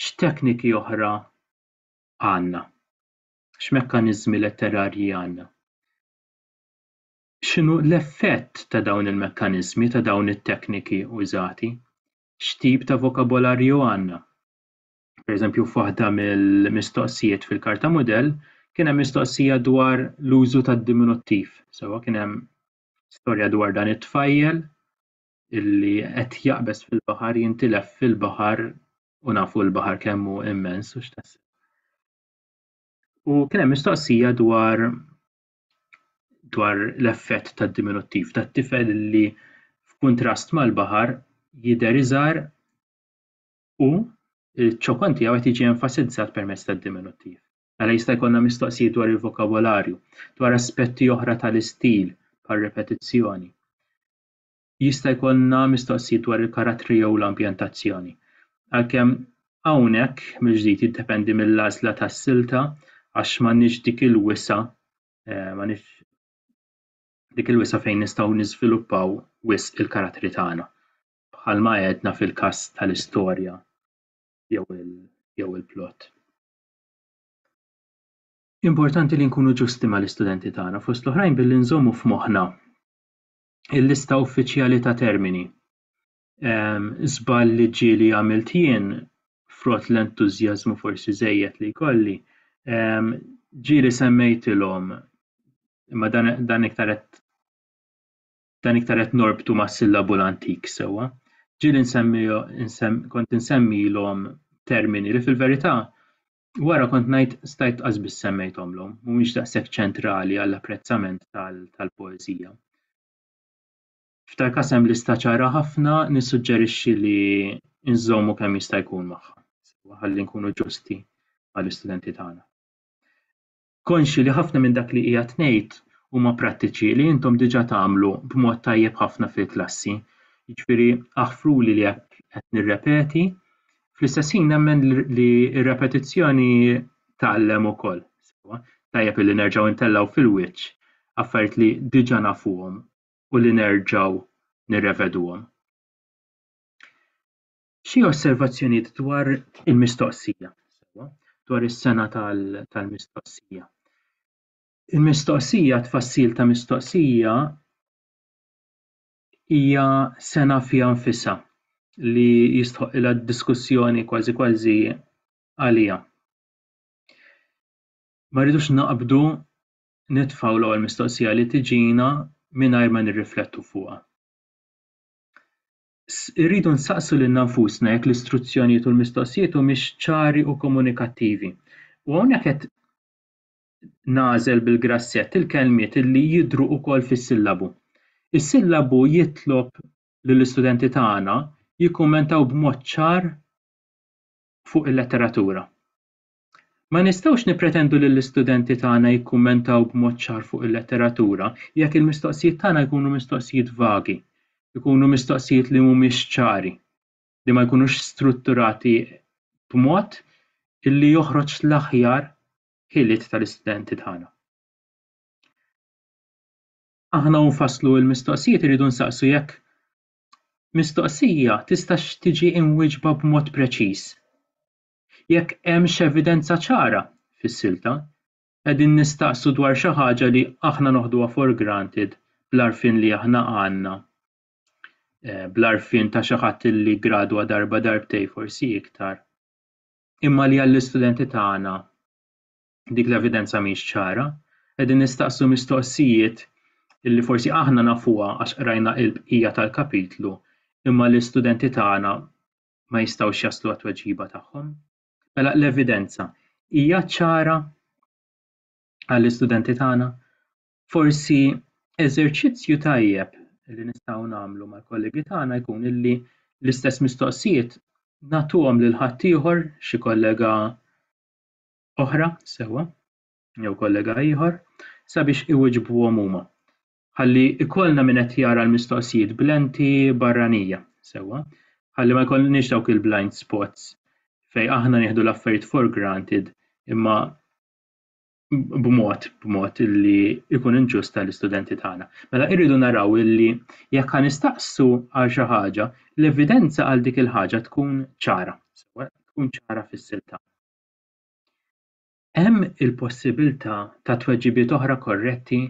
X'tekniki oħra għandna? X'mekkaniżmi letterarji għandna? X'inhu l-effett ta' dawn il-mekkaniżmi, ta' dawn it-tekniki użati? X'tip ta' vokabolarju għandna? Pereżempju, f'waħda mill-mistoqsijiet fil-karta mudell kien hemm mistoqsija dwar l-użu tad-diminuttiv. Sewwa kien hemm storja dwar dan it-tfajjel illi qed jaqbeż fil-baħar jintilef fil-baħar u nafu l-baħar kemm hu immens u x'tassew. U kien hemm mistoqsija dwar dwar l-effett tad-diminuttiv tat-tifel li f'kuntrast mal-baħar jidher iżgħar u ċ-ċokon tiegħu qed jiġi enfasizzat permezz tad-diminuttiv. Għala jista' jkollna mistoqsijiet dwar il-vokabolarju, dwar aspetti oħra tal-istil bħal repetizzjoni. jista' jkollna mistoqsijiet dwar il-karattri jew l-ambjentazzjoni. Għalkemm hawnhekk mill-ġdid jiddependi mill-għażla tas-silta għax m'għandniex dik il-wisa' eh, m'għandniex dik il-wisa' fejn nistgħu niżviluppaw wisq il-karattri tagħna bħalma għedna fil-każ tal-istorja jew il-plot. Importanti li nkunu ġusti mal-istudenti tagħna fost l-oħrajn billi nżommu f'moħħna il-lista uffiċjali ta' termini. Żball li ġie li għamilt jien, frott l-entużjażmu forsi żejjed li jkolli, ġie li semmejtilhom imma dan, dan iktar qed dan iktar qed norbtu mas-sillabu l-antik sewwa. Ġieli nsemmi kont insemmilhom termini li fil-verità Wara kont ngħid stajt qasbis semmejthomlhom, mhumiex daqshekk ċentrali għall-apprezzament tal-poeżija. F'tal każ hemm lista ċara ħafna, nissuġġerixxi li nżommu kemm jista' jkun magħha, ħalli nkunu ġusti mal-istudenti tagħna. konxji li ħafna minn dak li qiegħed ngħid huma prattiċi li intom diġà tagħmlu b'mod tajjeb ħafna fil-klassi. Jiġifieri aħfruli li hekk qed nirrepeti. Fl-istess ħin nemmen li r-repetizzjoni tgħallem ukoll. Tajjeb li nerġgħu ntellgħu fil-wiċċ affarijiet li diġà nafuhom u li nerġgħu nirreveduhom. Xi osservazzjonijiet dwar il-mistoqsija, dwar is-sena tal-mistoqsija. Il-mistoqsija, tfassil ta' mistoqsija hija sena fiha nfisha li jistħoq ilha diskussjoni kważi kważi għaliha. Ma rridux naqbdu nitfgħu l-ewwel mistoqsija li tiġina mingħajr ma nirriflettu fuqha. irridu nsaqsu lilna nfusna jekk l-istruzzjonijiet u l-mistoqsijiet humiex ċari u komunikattivi. U hawnhekk qed nagħżel bil-grassett il-kelmiet li jidhru wkoll fis-sillabu. Is-sillabu jitlob lill-istudenti tagħna jikkummentaw b'mod ċar fuq il-letteratura. Ma nistgħux nippretendu li l-istudenti tagħna jikkummentaw b'mod ċar fuq il-letteratura jekk il-mistoqsijiet tagħna jkunu mistoqsijiet vagi, ikunu mistoqsijiet li mhumiex ċari, li ma jkunux strutturati b'mod li joħroġ l-aħjar ħiliet tal-istudenti tagħna. Aħna u nfasslu l-mistoqsijiet irridu nsaqsu jekk mistoqsija tistax tiġi imwieġba b'mod preċiż. Jekk hemmx evidenza ċara fis-silta, qegħdin nistaqsu dwar xi ħaġa li aħna noħduha for granted bl-għarfien li aħna għandna, bl-għarfien ta' xi ħadd li ggradwa darba darbtejn forsi iktar, imma li għall-istudenti tagħna dik l-evidenza mhix ċara. Qegħdin nistaqsu mistoqsijiet li forsi aħna nafuha għax qrajna il-bqija tal-kapitlu imma l-istudenti tagħna ma jistgħux jaslu għat-tweġiba tagħhom. Mela l-evidenza hija ċara għall-istudenti tagħna forsi eżerċizzju tajjeb li nistgħu nagħmlu mal-kollegi tagħna jkun illi l-istess mistoqsijiet nagħtuhom lil ħaddieħor xi kollega oħra sewwa jew kollega ieħor sabiex iwiġbuhom huma. ħalli ikollna min qed jara l-mistoqsijiet b'lenti barranija sewwa, ħalli ma jkollniex dawk il-blind spots fej aħna nieħdu l-affarijiet for granted imma b'mod b'mod illi ikun inġust tal-istudenti tagħna. Mela irridu naraw illi jekk ħa nistaqsu għal xi ħaġa, l-evidenza għal dik il-ħaġa tkun ċara, tkun ċara fis-silta. Hemm il-possibilità ta' tweġibiet oħra korretti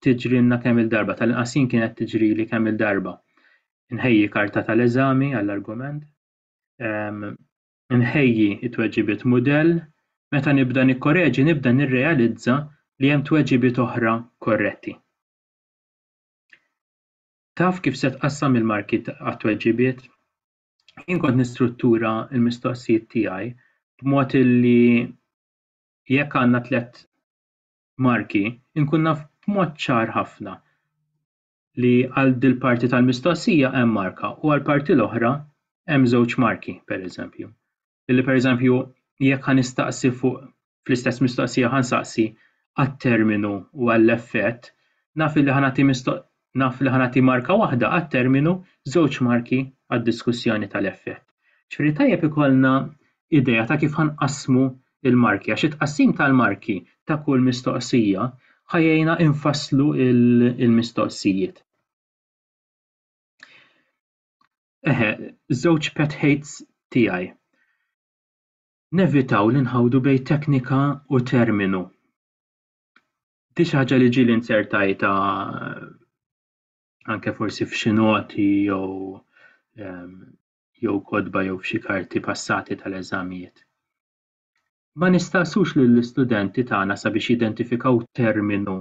tiġrilna kemm il-darba, tal-inqas jien kienet tiġrili kemm il-darba. Nħejji karta tal-eżami għall-argument, ehm, nħejji t-tweġibiet mudell, meta nibda nikkoreġi nibda nirrealizza li hemm tweġibiet oħra korretti. Taf kif se tqassam il-marki għat-tweġibiet? jien kont nistruttura l-mistoqsijiet tiegħi b'mod illi jekk għandna tliet marki, inkun naf b'mod ċar ħafna li għal dil-parti tal-mistoqsija hemm marka u għal parti l-oħra hemm żewġ marki, pereżempju. li pereżempju jekk ħa nistaqsi fuq fl-istess mistoqsija ħa nsaqsi għat-terminu u għall-effett, naf li ħa nagħti naf li ħa nagħti marka waħda għat-terminu, żewġ marki għad-diskussjoni tal-effett. Ġifieri tajjeb ikollna idea ta' kif ħa nqassmu l-marki għax it-tqassim tal-marki ta' kull mistoqsija ħa jgħinna infasslu l-mistoqsijiet. Eħe, żewġ pet hates tiegħi. Nevitaw li nħawdu bejn teknika u terminu. Di xi ħaġa li ġieli nzertajta anke forsi f'xi noti jew ehm, jew kodba jew f'xi karti passati tal-eżamijiet. Ma nistaqsux lill-istudenti tagħna sabiex jidentifikaw terminu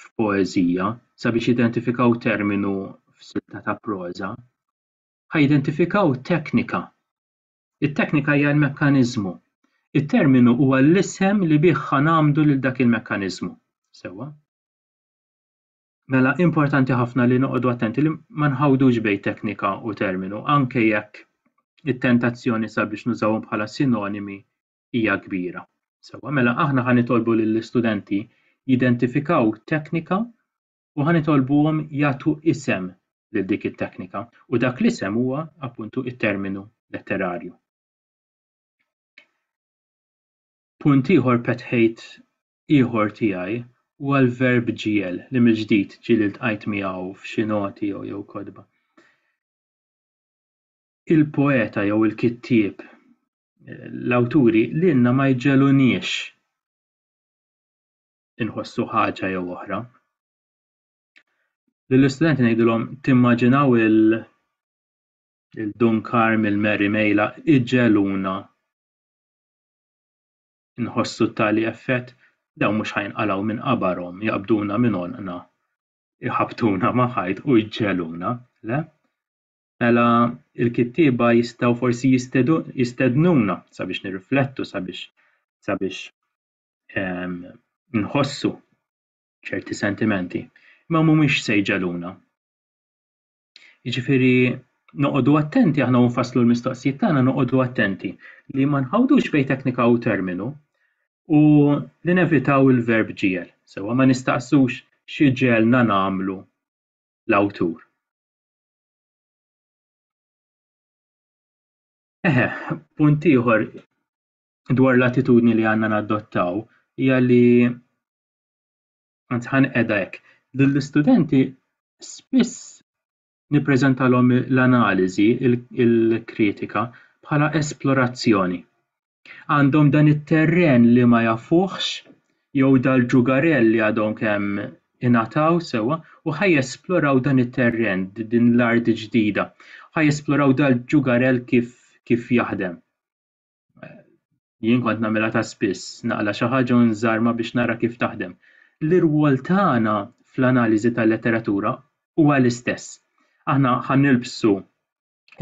f'poeżija sabiex jidentifikaw terminu f'silta ta' proża, ħa jidentifikaw teknika. It-teknika hija l-mekkaniżmu. It-terminu huwa l-isem li bih ħa ngħammdu lil dak il-mekkaniżmu. Sewwa? Mela importanti ħafna li noqogħdu attenti li ma nħawdux bejn teknika u terminu, anke jekk it-tentazzjoni sabiex nużawhom bħala sinonimi hija kbira. Sewwa, mela aħna ħa nitolbu lill-istudenti jidentifikaw teknika u ħa nitolbuhom jagħtu isem lil dik it-teknika u dak l-isem huwa appuntu it-terminu letterarju. Punt ieħor petħejt ieħor tiegħi huwa l-verb ġiel li mill-ġdid ġieli ltqajt miegħu f'xi noti jew jew kotba. Il-poeta jew il-kittieb l-awturi lilna ma jġegħluniex inħossu ħaġa jew oħra. Lill-istudenti ngħidilhom timmaġinaw il- il-Dun Karm, il-Mary Mejla, iġeluna nħossu tali effett, daw mhux ħajnqalgħu minn qabarhom, jaqbduna minn għonqna, iħabtuna ma' ħajt u jġeluna, le? mela l-kittieba jistgħu forsi jistednuna sabiex nirriflettu, sabiex sabiex ehm, nħossu ċerti sentimenti, imma mhumiex se jġaluna. Jiġifieri noqogħdu attenti aħna nfasslu l-mistoqsijiet tagħna noqogħdu attenti li ma nħawdux bejn teknika u terminu u li nevitaw il-verb ġiel. Sewa ma nistaqsux xi ġelna nagħmlu l-awtur. Eħe, punt ieħor dwar l-attitudni li għandna nadottaw hija li anzi ħan qiegħda hekk. Lill-istudenti spiss nippreżentalhom l-analiżi, il-kritika bħala esplorazzjoni. għandhom dan it-terren li ma jafuhx jew dal-ġugarell li għadhom kemm ingħataw sewwa u ħa jesploraw dan it-terren, din l-art ġdida. Ħa jesploraw dal-ġugarell kif, kif jaħdem. Jien kont nagħmilha ta' spiss, naqla' xi ħaġa u nżarma biex nara kif taħdem. L-irwol tagħna fl-analiżi tal-letteratura huwa l-istess. Aħna ħa nilbsu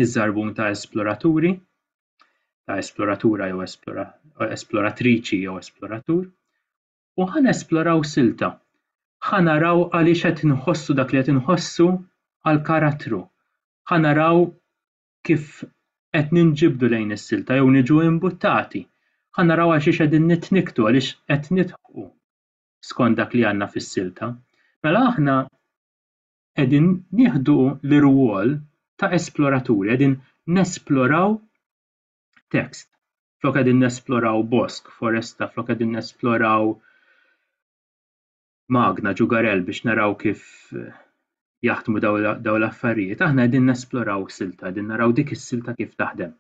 iż-żarbun ta' esploraturi, ta' esploratura jew esplora, esploratriċi jew esploratur, u ħan esploraw silta. Ħan naraw għaliex qed inħossu dak li qed inħossu għal karattru. Ħan naraw kif qed ninġibdu lejn is-silta jew niġu imbuttati. Ħan naraw għal xiex qegħdin nitniktu għaliex qed nidħu skont dak li għandna fis-silta. Mela aħna qegħdin nieħdu l-irwol ta' esploraturi, qegħdin nesploraw tekst. Flok qegħdin nesploraw bosk, foresta, flok qegħdin nesploraw magna ġugarel biex naraw kif eh, jaħdmu daw l-affarijiet, aħna qegħdin nesploraw silta, qegħdin naraw dik is-silta kif taħdem.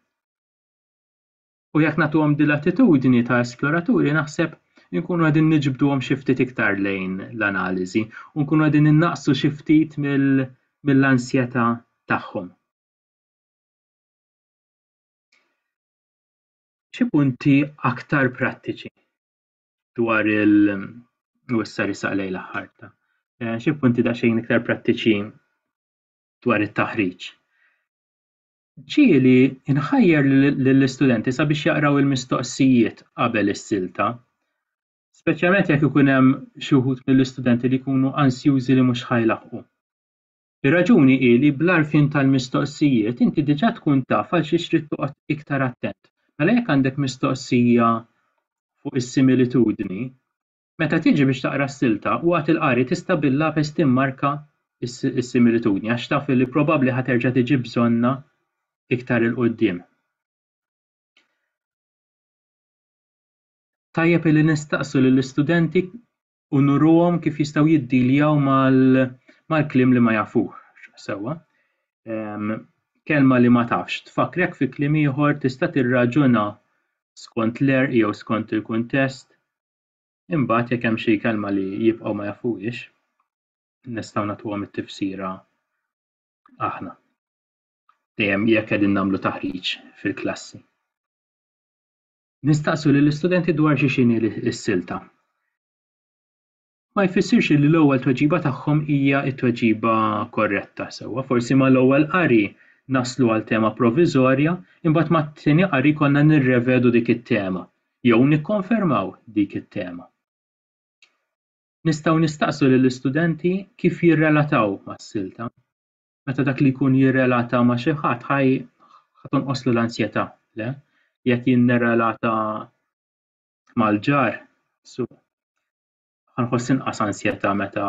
U jekk nagħtuhom din l-attitudni ta' esploraturi naħseb inkunu qegħdin niġbduhom xi ftit iktar lejn l-analiżi u nkunu qegħdin innaqsu xi ftit mill-ansjetà tagħhom. Xi punti aktar prattiċi dwar il- u issa risaq lejn l-aħħar ta' eh, xi punti daqsxejn iktar prattiċi dwar it-taħriġ. Ġieli nħajjar lill-istudenti sabiex jaqraw il-mistoqsijiet qabel is-silta, speċjalment jekk ikun hemm xi wħud mill-istudenti li jkunu ansjużi li mhux ħa jlaħħqu. Ir-raġuni hi li bl-għarfien tal-mistoqsijiet inti diġà tkun taf għal xiex trid toqgħod iktar attent. Mela jekk għandek mistoqsija fuq is-similitudni, Meta tiġi biex taqra s-silta, waqt il-qari tista' bil-lapes timmarka s-similitudni għax taf li probabbli ħa terġa' tiġi bżonnha iktar 'il quddiem. Tajjeb li nistaqsu lill-istudenti u nuruhom kif jistgħu jiddiljaw mal-kliem li ma jafuh sewwa. Ehm, kelma li ma tafx tfakkrek fi kliem ieħor tista' tirraġuna skont l-għerq jew skont il-kuntest Imbagħad jekk hemm xi kelma li jibqgħu ma jafuhiex, nistgħu nagħtuhom it-tifsira aħna. Dejjem jekk qegħdin nagħmlu taħriġ fil-klassi. Nistaqsu lill istudenti dwar xi xini s-silta. Ma jfissirx li l-ewwel tweġiba tagħhom hija t-tweġiba korretta sewwa, forsi mal-ewwel qari naslu għal tema proviżorja, imbagħad mat-tieni qari konna nirrevedu dik it-tema. jew nikkonfermaw dik it-tema. Nistgħu nistaqsu lill-istudenti kif jirrelataw mas-silta. Meta dak li jkun jirrelata ma' xi ħadd ħa tonqoslu l-ansjetà, le? Li qed jinnerelata mal-ġar, su, ħa nħoss inqas ansjetà meta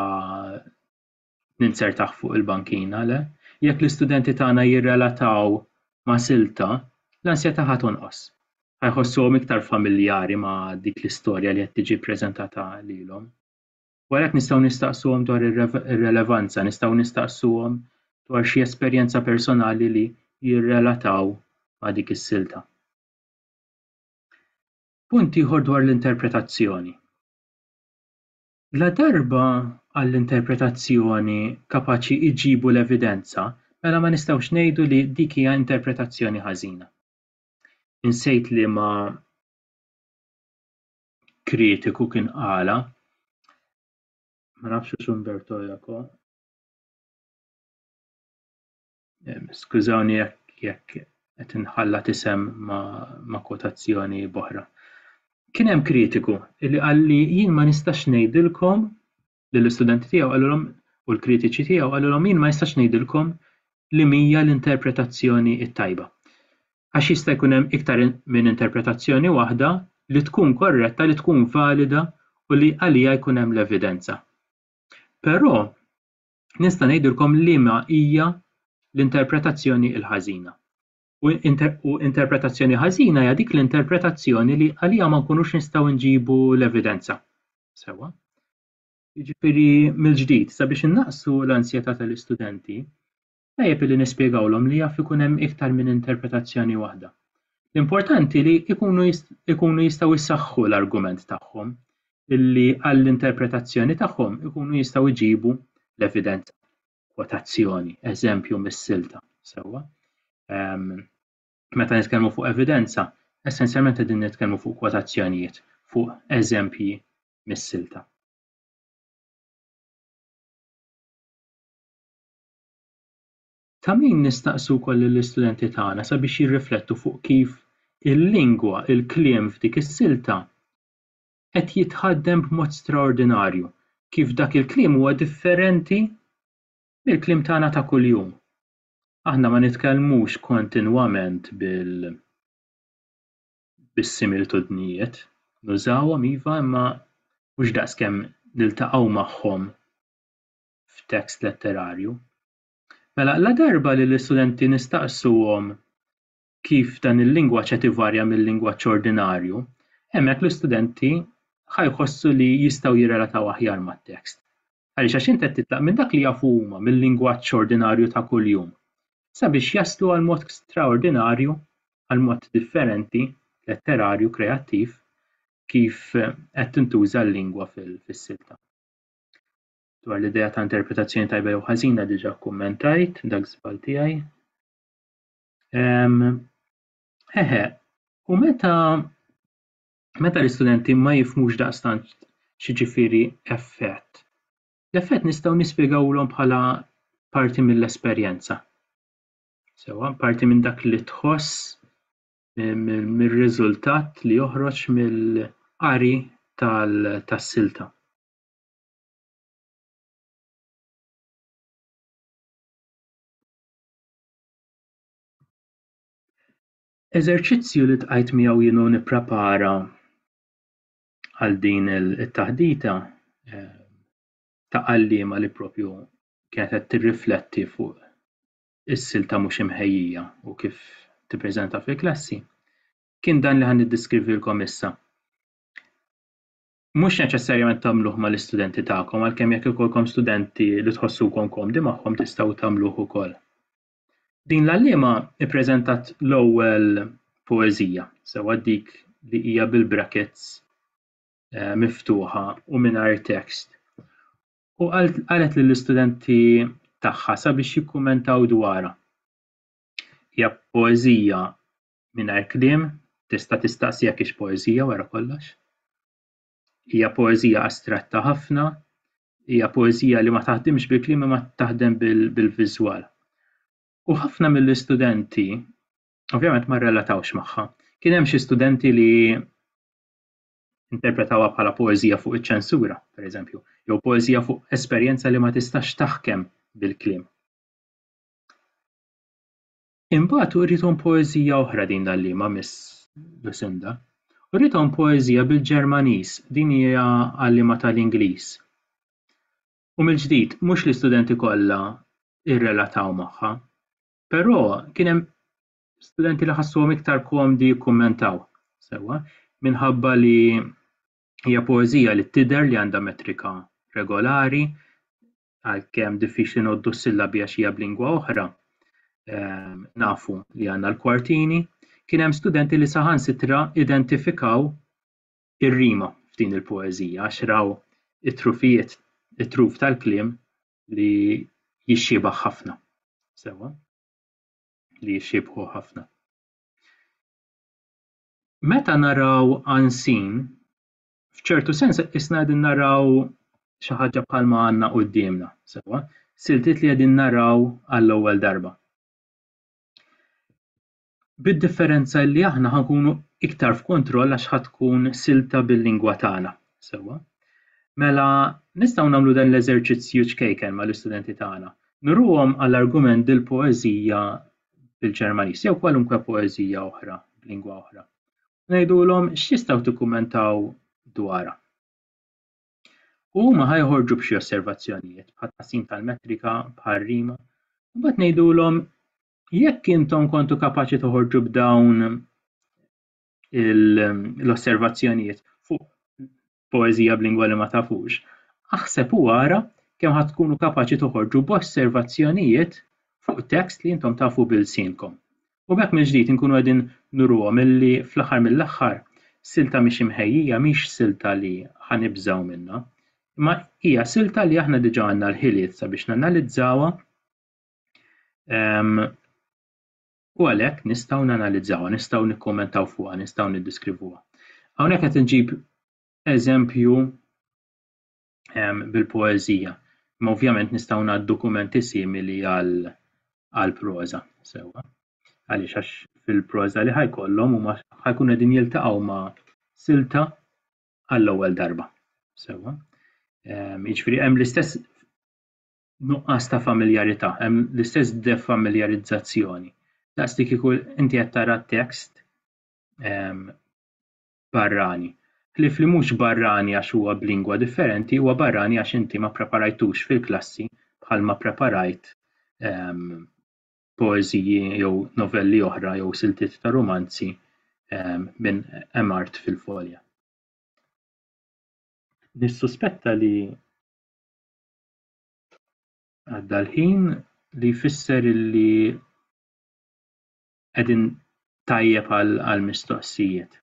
ninzertah fuq il-bankina, le? Jekk l-istudenti tagħna jirrelataw ma' silta, l-ansjetà ħa tonqos. Ħa jħossuhom iktar familjari ma' dik l-istorja li qed tiġi ppreżentata lilhom. U għalhekk nistgħu nistaqsuhom dwar ir-relevanza, nistgħu nistaqsuhom dwar xi esperjenza personali li jirrelataw ma' dik is-silta. Punt ieħor dwar l-interpretazzjoni. Ladarba għall-interpretazzjoni kapaċi jġibu l-evidenza, mela ma nistgħux ngħidu li dik hija interpretazzjoni ħażina. Insejt liema kritiku kien qalha, ma nafx hux Umberto Eco, Skużawni jekk jekk qed inħalla tisem ma' kotazzjoni boħra. Kien hemm kritiku li qalli jien ma nistax ngħidilkom lill-istudenti tiegħu qalilhom u l-kritiċi tiegħu qalilhom jien ma nistax ngħidilkom li mija l-interpretazzjoni t-tajba. Għax jista' jkun hemm iktar minn interpretazzjoni waħda li tkun korretta, li tkun valida u li għalija jkun hemm l-evidenza. Però nista' ngħidilkom liema hija l-interpretazzjoni l-ħażina. U, inter, u interpretazzjoni ħażina hija dik l-interpretazzjoni li għalija ma nkunux nistgħu nġibu l-evidenza. Sewa. Jiġifieri mill-ġdid sabiex innaqsu l-ansjetà tal-istudenti, tajjeb li nispjegawlhom li jaf ikun hemm iktar minn interpretazzjoni waħda. L-importanti li jkunu jistgħu jsaħħu l-argument tagħhom li għall-interpretazzjoni tagħhom ikunu jistgħu jġibu l-evidenza, kwotazzjoni, eżempju mis-silta, sewwa. Meta nitkellmu fuq evidenza, essenzjalment qegħdin nitkellmu fuq kwotazzjonijiet, fuq eżempji mis-silta. Ta' min nistaqsu wkoll lill-istudenti tagħna sabiex jirriflettu fuq kif il-lingwa, il-kliem f'dik is-silta qed jitħaddem b'mod straordinarju, kif dak il-kliem huwa differenti mill-kliem tagħna ta' kuljum. Aħna ma nitkellmux kontinwament bil bis-similtudnijiet, nużawhom iva imma mhux daqskemm niltaqgħu magħhom f'tekst letterarju. Mela, ladarba li l-istudenti nistaqsuhom kif dan il-lingwaġġ qed ivarja mil-lingwaġġ ordinarju, hemmhekk l-istudenti ħa jħossu li jistgħu jirrelataw aħjar mat-tekst. Għaliex? Għax int qed titlaq minn dak li jafu huma, mil-lingwaġġ ordinarju ta' kuljum, sabiex jaslu għal mod straordinarju, għal mod differenti, letterarju, kreattiv, kif qed tintuża l-lingwa fis-silta. dwar l-idea ta' interpretazzjoni tajba jew ħażina diġà kkummentajt dak żball tiegħi. Eħe, u meta meta l-istudenti ma jifmux daqstant xi ġifieri effett, l-effett nistgħu nispjegawlhom bħala parti mill-esperjenza. Sewa, parti minn dak li tħoss mir-riżultat li joħroġ mill-qari tas-silta. Eżerċizzju li tqajt miegħu jienu nipprepara għal din it-taħdita eh, ta' għalliema li propju kienet qed tirrifletti fuq is-silta mhux imħejjija u kif tippreżenta fil-klassi, kien dan li ħan niddiskrivilkom issa. mhux neċessarjament tagħmluh mal-istudenti tagħkom għalkemm jekk ikollkom studenti li tħossukom komdi magħhom tistgħu tagħmluh ukoll. Din l-għalliema ppreżentat l-ewwel poeżija, sewwa dik li hija bil-brackets eh, miftuħa u mingħajr tekst. U qalet lill-istudenti tagħha sabiex jikkumentaw dwarha. Hija poeżija mingħajr kliem, tista' tistaqsi jekk hix poeżija wara kollox. Hija poeżija astratta ħafna, hija poeżija li ma taħdimx bil-kliem ma taħdem bil-viżwal. U ħafna mill-istudenti, ovvjament ma relatawx magħha. Kien hemm xi studenti li interpretawha bħala poeżija fuq iċ-ċensura, pereżempju, jew poeżija fuq esperjenza li ma tistax taħkem bil-kliem. Imbagħad uriethom poeżija oħra din l-għalliema Miss Lucinda. Uriethom poeżija bil-Ġermaniż, din hija għalliema tal-Ingliż. U mill-ġdid, mhux l-istudenti kollha rrelataw magħha, però kien hemm studenti li ħassuhom iktar komdi jikkummentaw, sewwa, minħabba li hija poeżija li tidher li għandha metrika regolari, għalkemm diffiċli noddu s-sillabi għax hija b'lingwa oħra, ehm, nafu li għandna l-kwartini, kien hemm studenti li saħansitra identifikaw ir-rima f'din il-poeżija għax raw it-trufijiet, it-truf tal-kliem li jixxibaħ ħafna. Sewa? Li jixxibħu ħafna. Meta naraw ansin, f'ċertu sens isna qegħdin naraw xi ħaġa bħalma għandna quddiemna, sewwa, siltiet li qegħdin naraw għall-ewwel darba. Bid-differenza li aħna ħankunu iktar f'kontroll għax ħadd tkun silta bil-lingwa tagħna, sewwa. Mela nistgħu nagħmlu dan l-eżerċizzju ċkejken mal-istudenti tagħna. Nuruhom għall-argument dil-poeżija bil-Ġermaniż jew kwalunkwe poeżija oħra b'lingwa oħra. ngħidulhom x'tistgħu tikkummentaw dwarha. U huma ħa joħorġu b'xi osservazzjonijiet bħal tqassim tal-metrika, bħal rima, u mbagħad ngħidulhom jekk intom kontu kapaċi toħorġu b'dawn l-osservazzjonijiet fuq poeżija b'lingwa li ma tafux, aħseb u ara kemm ħa tkunu kapaċi toħorġu b'osservazzjonijiet fuq tekst li intom tafu b'ilsienkom. U b'hekk mill-ġdid inkunu qegħdin nuruhom illi fl-aħħar mill-aħħar silta mhix imħejjija mhix silta li ħa nibżgħu minnha, imma hija silta li aħna diġà għandna l-ħiliet sabiex nanalizzawha ehm, u għalhekk nistgħu nanalizzawha, nistgħu nikkummentaw fuqha, nistgħu niddiskrivuha. Hawnhekk qed inġib eżempju ehm, bil-poeżija, ma ovvjament nistgħu ngħad dokumenti simili għal għal proza sewwa. Għaliex għax fil-proza li ħajkollhom huma ħajkun qegħdin jiltaqgħu ma' silta għall-ewwel darba. Sewwa. Ehm, jiġifieri hemm l-istess nuqqas ta' familjarità, hemm l-istess defamiljarizzazzjoni. Daqs li kieku inti qed tara tekst ehm, barrani. Ħlief li mhux barrani għax huwa b'lingwa differenti, huwa barrani għax inti ma preparajtux fil-klassi bħal ma preparajt ehm, poeżiji jew novelli oħra jew siltiet ta' rumanzi ehm, minn Emart fil-folja. Nissuspetta li Għadda l-ħin li jfisser li qegħdin tajjeb għal mistoqsijiet.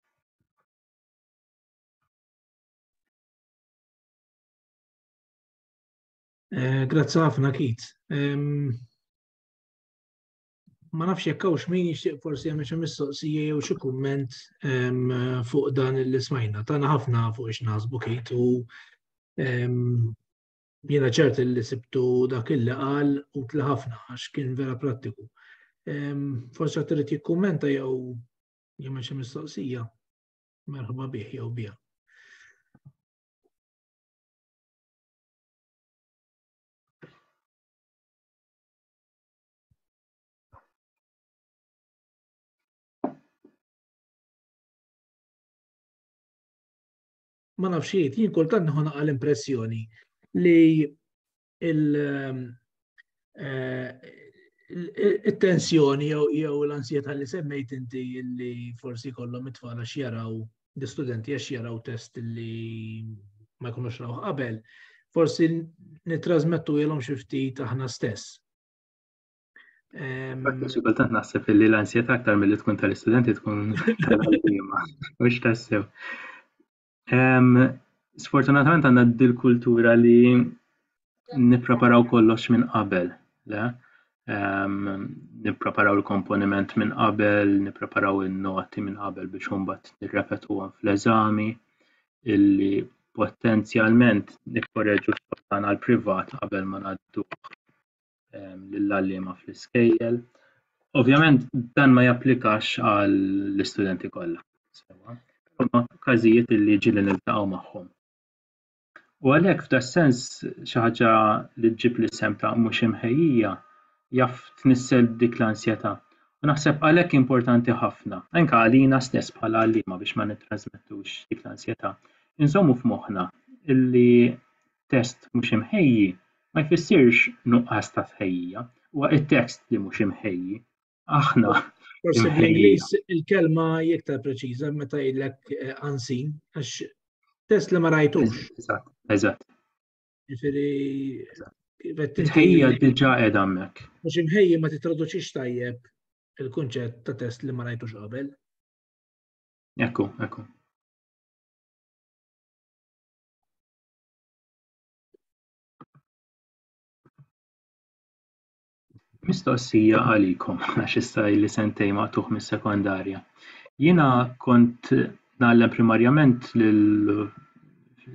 Eh, grazzi ħafna Kit. ma nafx jekk hawnx min jixtieq forsi hemm xi mistoqsija jew xi kumment fuq dan li smajna. Tana ħafna fuq ix naħsbu kit u jiena ċert li sibtu dak il qal u tla ħafna għax kien vera prattiku. Forsi għat trid jikkummenta jew jemma xi mistoqsija merħba bih jew biha. ma nafx jgħid, jien kultant nħu naqa' l-impressjoni li ehm, eh, il-tensjoni jew l-ansjeta li semmejt inti li forsi kollhom it-tfal għax jaraw l-istudenti għax jaraw test li ma jkunux raw qabel, forsi nitrasmettu jelom xifti taħna stess. Għakku xikultant naħseb li l-ansjeta aktar mill-li tkun tal-istudenti tkun tal-għalima, mux tassew. Sfortunatament għanna dil-kultura li nipreparaw kollox minn qabel, le? Nipreparaw il-komponiment minn qabel, nipreparaw il-noti minn qabel biex umbat nirrepetu għan fl-eżami. illi potenzjalment nikkoreġu x-xogħol tagħna l-privat qabel ma ngħadduh ehm, lill-għalliema fl-iskejjel. Ovvjament dan ma japplikax għall-istudenti kollha. Huma każijiet illi ġieli niltaqgħu magħhom. U għalhekk f'das sens xi ħaġa li ġġib l-isem ta' mhux imħejjija jaf tnissel dik l-ansjetà. U naħseb għalhekk importanti ħafna, anke għalina stess bħala għalliema biex ma nittrażmettux dik l-ansjetà, inżommu f'moħħna li test mhux imħejji ma jfissirx nuqqas ta' tħejjija, huwa t-tekst li mhux imħejji, aħna. Forsi bl-Ingliż il-kelma iktar preċiża meta jgħidlek eh, unseen, għax test li ma rajtux. Eżatt, eżatt. Ġifiri, Tħejja diġa edha mek. Mux imħejja ma titraduċix tajjeb il-kunċett ta' test li ma rajtux qabel. Ekku, ekku. Mistoqsija għalikom, għax issa li sentej maqtuħ mis-sekondarja. Jiena kont nagħlem primarjament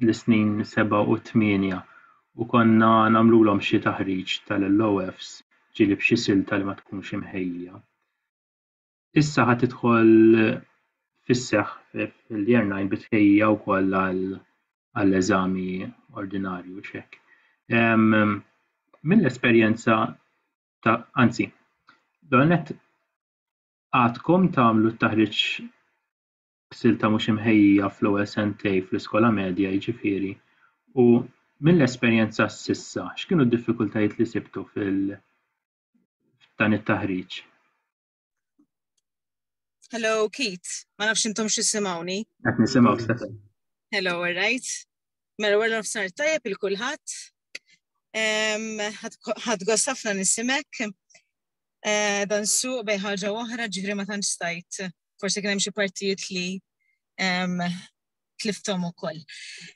l-snin 7 u 8 u konna nagħmlulhom xi taħriġ tal-LOFs, ġieli b'xi silta li ma tkunx imħejjija. issa ħad tidħol fis-seħħ fil-year 9 bitħejja wkoll għall-eżami ordinarju xek. Mill-esperjenza ta' anzi, donet għadkom tagħmlu t-taħriġ silta mhux imħejja fl-ewwel sentej fl-iskola medja jiġifieri u mill-esperjenza s'issa x'kienu d-diffikultajiet li sibtu fil dan it-taħriġ? Hello, Keith. Ma nafx intom xissimawni. Għet nisimaw, Stefan. Hello, all right. Mela, għarra f'sar tajab il-kulħat. Għad għasafna nisimek. Eh, dan su bej ħaġa oħra ġifri ma tantx stajt. Forse kien hemm xi partijiet li tliftom ukoll.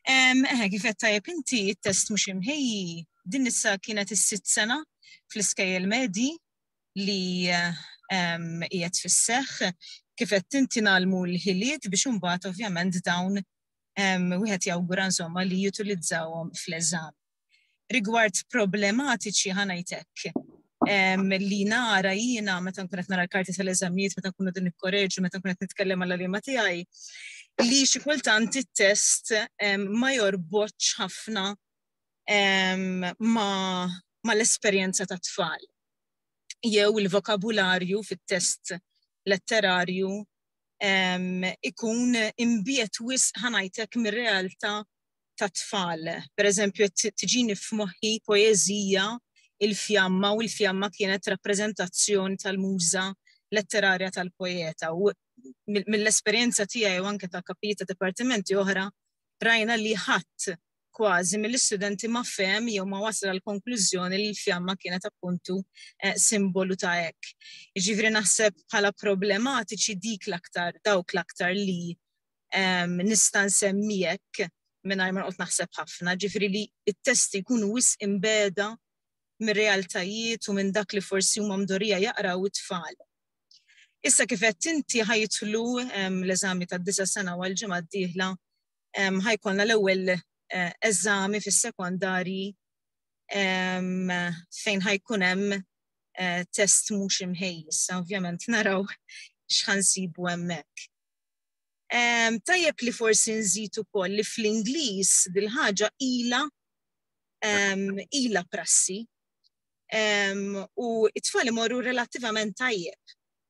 Eħe, kif qed tajjeb inti t-test mhux imħejji, din issa kienet is-sitt sena fl-iskejjel medji li qiegħed fis-seħħ kif qed tintinalmu l-ħiliet biex imbagħad ovvjament dawn wieħed jawgura insomma li jutilizzawhom fl-eżam. Rigward problematiċi ħanajtek li nara jiena meta nkun qed nara l-karti tal-eżamijiet, meta nkunu din ikkoreġu, meta nkun qed nitkellem għal liema tiegħi, li xi kultant it-test ma jorbotx ħafna ma l-esperjenza ta' tfal. jew il-vokabularju fit-test letterarju ikun imbiet wis ħanajtek mir-realtà ta' tfal. Per eżempju, tiġini f'moħħi poezija il-fjamma u l-fjamma kienet rappreżentazzjoni tal-muża letterarja tal-poeta. U mill-esperjenza tiegħi u anke ta' kapijiet ta' dipartimenti oħra, rajna li ħadd kważi mill-istudenti ma fem jew ma wasal għal konklużjoni li l-fjamma kienet appuntu eh, simbolu ta' hekk. Ġifri naħseb bħala problematiċi dik l-aktar, dawk l-aktar li ehm, nista' nsemmijek minn ma qod naħseb ħafna, ġifri li t-testi jkunu wis imbeda minn realtajiet u minn dak li forsi huma mdorija jaqraw it-tfal. Issa kif qed inti ħajtlu ehm, l-eżami tad-disa sena għal ġimgħa d-dieħla ħajkolna l-ewwel eh, eżami fis-sekondarji fejn ħajkun hemm eh, test mhux imħejjis, ovvjament naraw x'ħansibu hemmhekk. Tajjeb li forsi nżid ukoll li fl-Ingliż dil-ħaġa ila ila prassi u it-tfal imorru relattivament tajjeb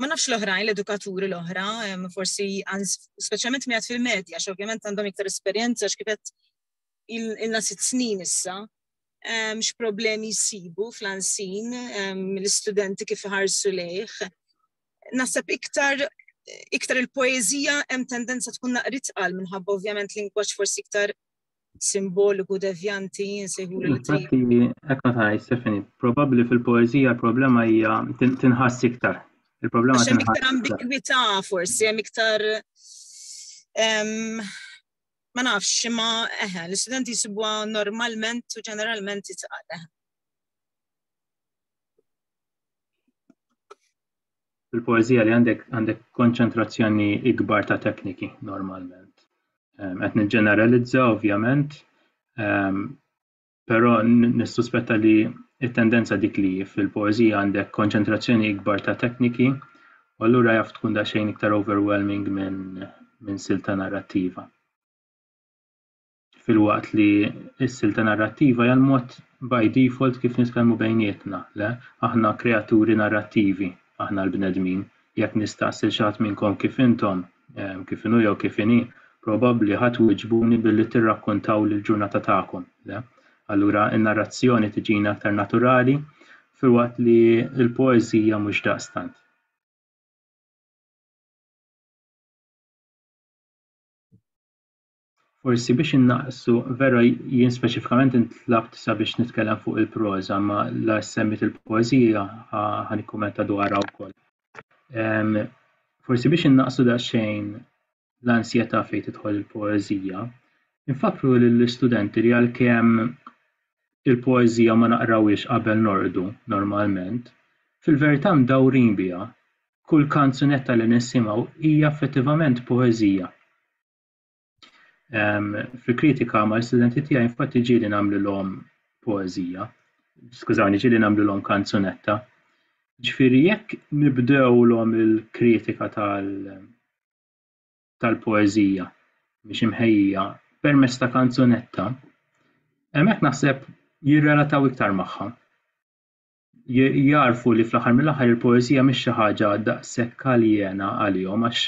ma nafx l-oħrajn, l-edukaturi l-oħra, forsi speċjalment miegħed fil-medja, għax ovvjament għandhom iktar esperjenza x'kifet il-na sitt snin issa, x'problemi jsibu fl-ansin l-istudenti kif ħarsu lejh. Naħseb iktar iktar il-poezija hemm tendenza tkun naqrit qal minħabba ovvjament lingwaġġ forsi iktar simboliku devjanti jinsejħu li Infatti, ekk ma tgħid Stefani, probabbli fil-poeżija l-problema hija tinħass iktar. Il-problema tinħass. Iktar ambigwità forsi, hemm iktar ma nafx imma eħe, l-istudenti jisibuha normalment u ġeneralment titqal fil-poeżija li għandek għandek konċentrazzjoni ikbar ta' tekniki normalment. Ehm, qed niġġeneralizza ovvjament, ehm, però nissuspetta li it-tendenza dik li fil-poeżija għandek konċentrazzjoni ikbar ta' tekniki, u allura jaf tkun daqsxejn iktar overwhelming minn min silta narrattiva. filwaqt li s-silta narrattiva hija l-mod by default kif nitkellmu bejnietna, le? Aħna kreaturi narrattivi, aħna l-bnedmin. Jekk nistaqsi lil xi ħadd minnkom kif intom, ehm, kif inhu jew kif inhi, probabbli ħa twiġbuni billi tirrakkontaw l-ġurnata tagħkom, le? Allura n-narrazzjoni tiġina aktar naturali, filwaqt li l-poeżija mhux daqstant. Forsi biex innaqsu, vera jien speċifikament intlabt sabiex nitkellem fuq il-proża, ma la semmit il-poeżija ħan ikkumenta dwarha wkoll. Forsi biex innaqsu daqsxejn l-ansjetà fejn tidħol il-poeżija, infakru lill-istudenti li għalkemm il-poeżija ma naqrawhiex qabel norqdu normalment, fil-verità mdawrin biha. Kull kanzunetta li nisimgħu hija effettivament poeżija. Fil-kritika ma' l-istudenti tiegħi infatti ġieli nagħmlilhom poeżija, skużawni, ġieli nagħmlilhom kanzunetta. Ġifieri jekk nibdewlhom il-kritika tal tal-poeżija biex imħejjija permezz ta' kanzunetta, hemmhekk naħseb jirrelataw iktar magħha. jagħrfu li fl-aħħar mill-aħħar il-poeżija mhix xi ħaġa daqshekk aljena għalihom għax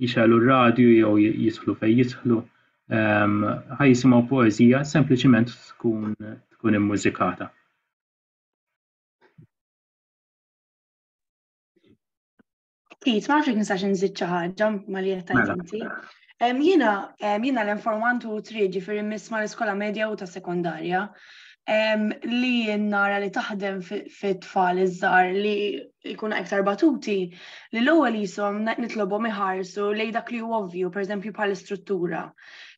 jixgħelu r-radju jew jidħlu fejn jidħlu ehm, ħa jisimgħu poeżija sempliċiment tkun tkun immużikata. Ftit, ma nafx nistax nżid xi ħaġa ma li qed mela. inti. Jiena jiena l-informant u tri ġifieri miss ma l-iskola medja u ta' sekondarja li nara li taħdem fit-tfal iż-żar li jkun iktar batuti li l-ewwel jisom nitlobhom iħarsu lej dak li huwa ovvju, pereżempju bħal istruttura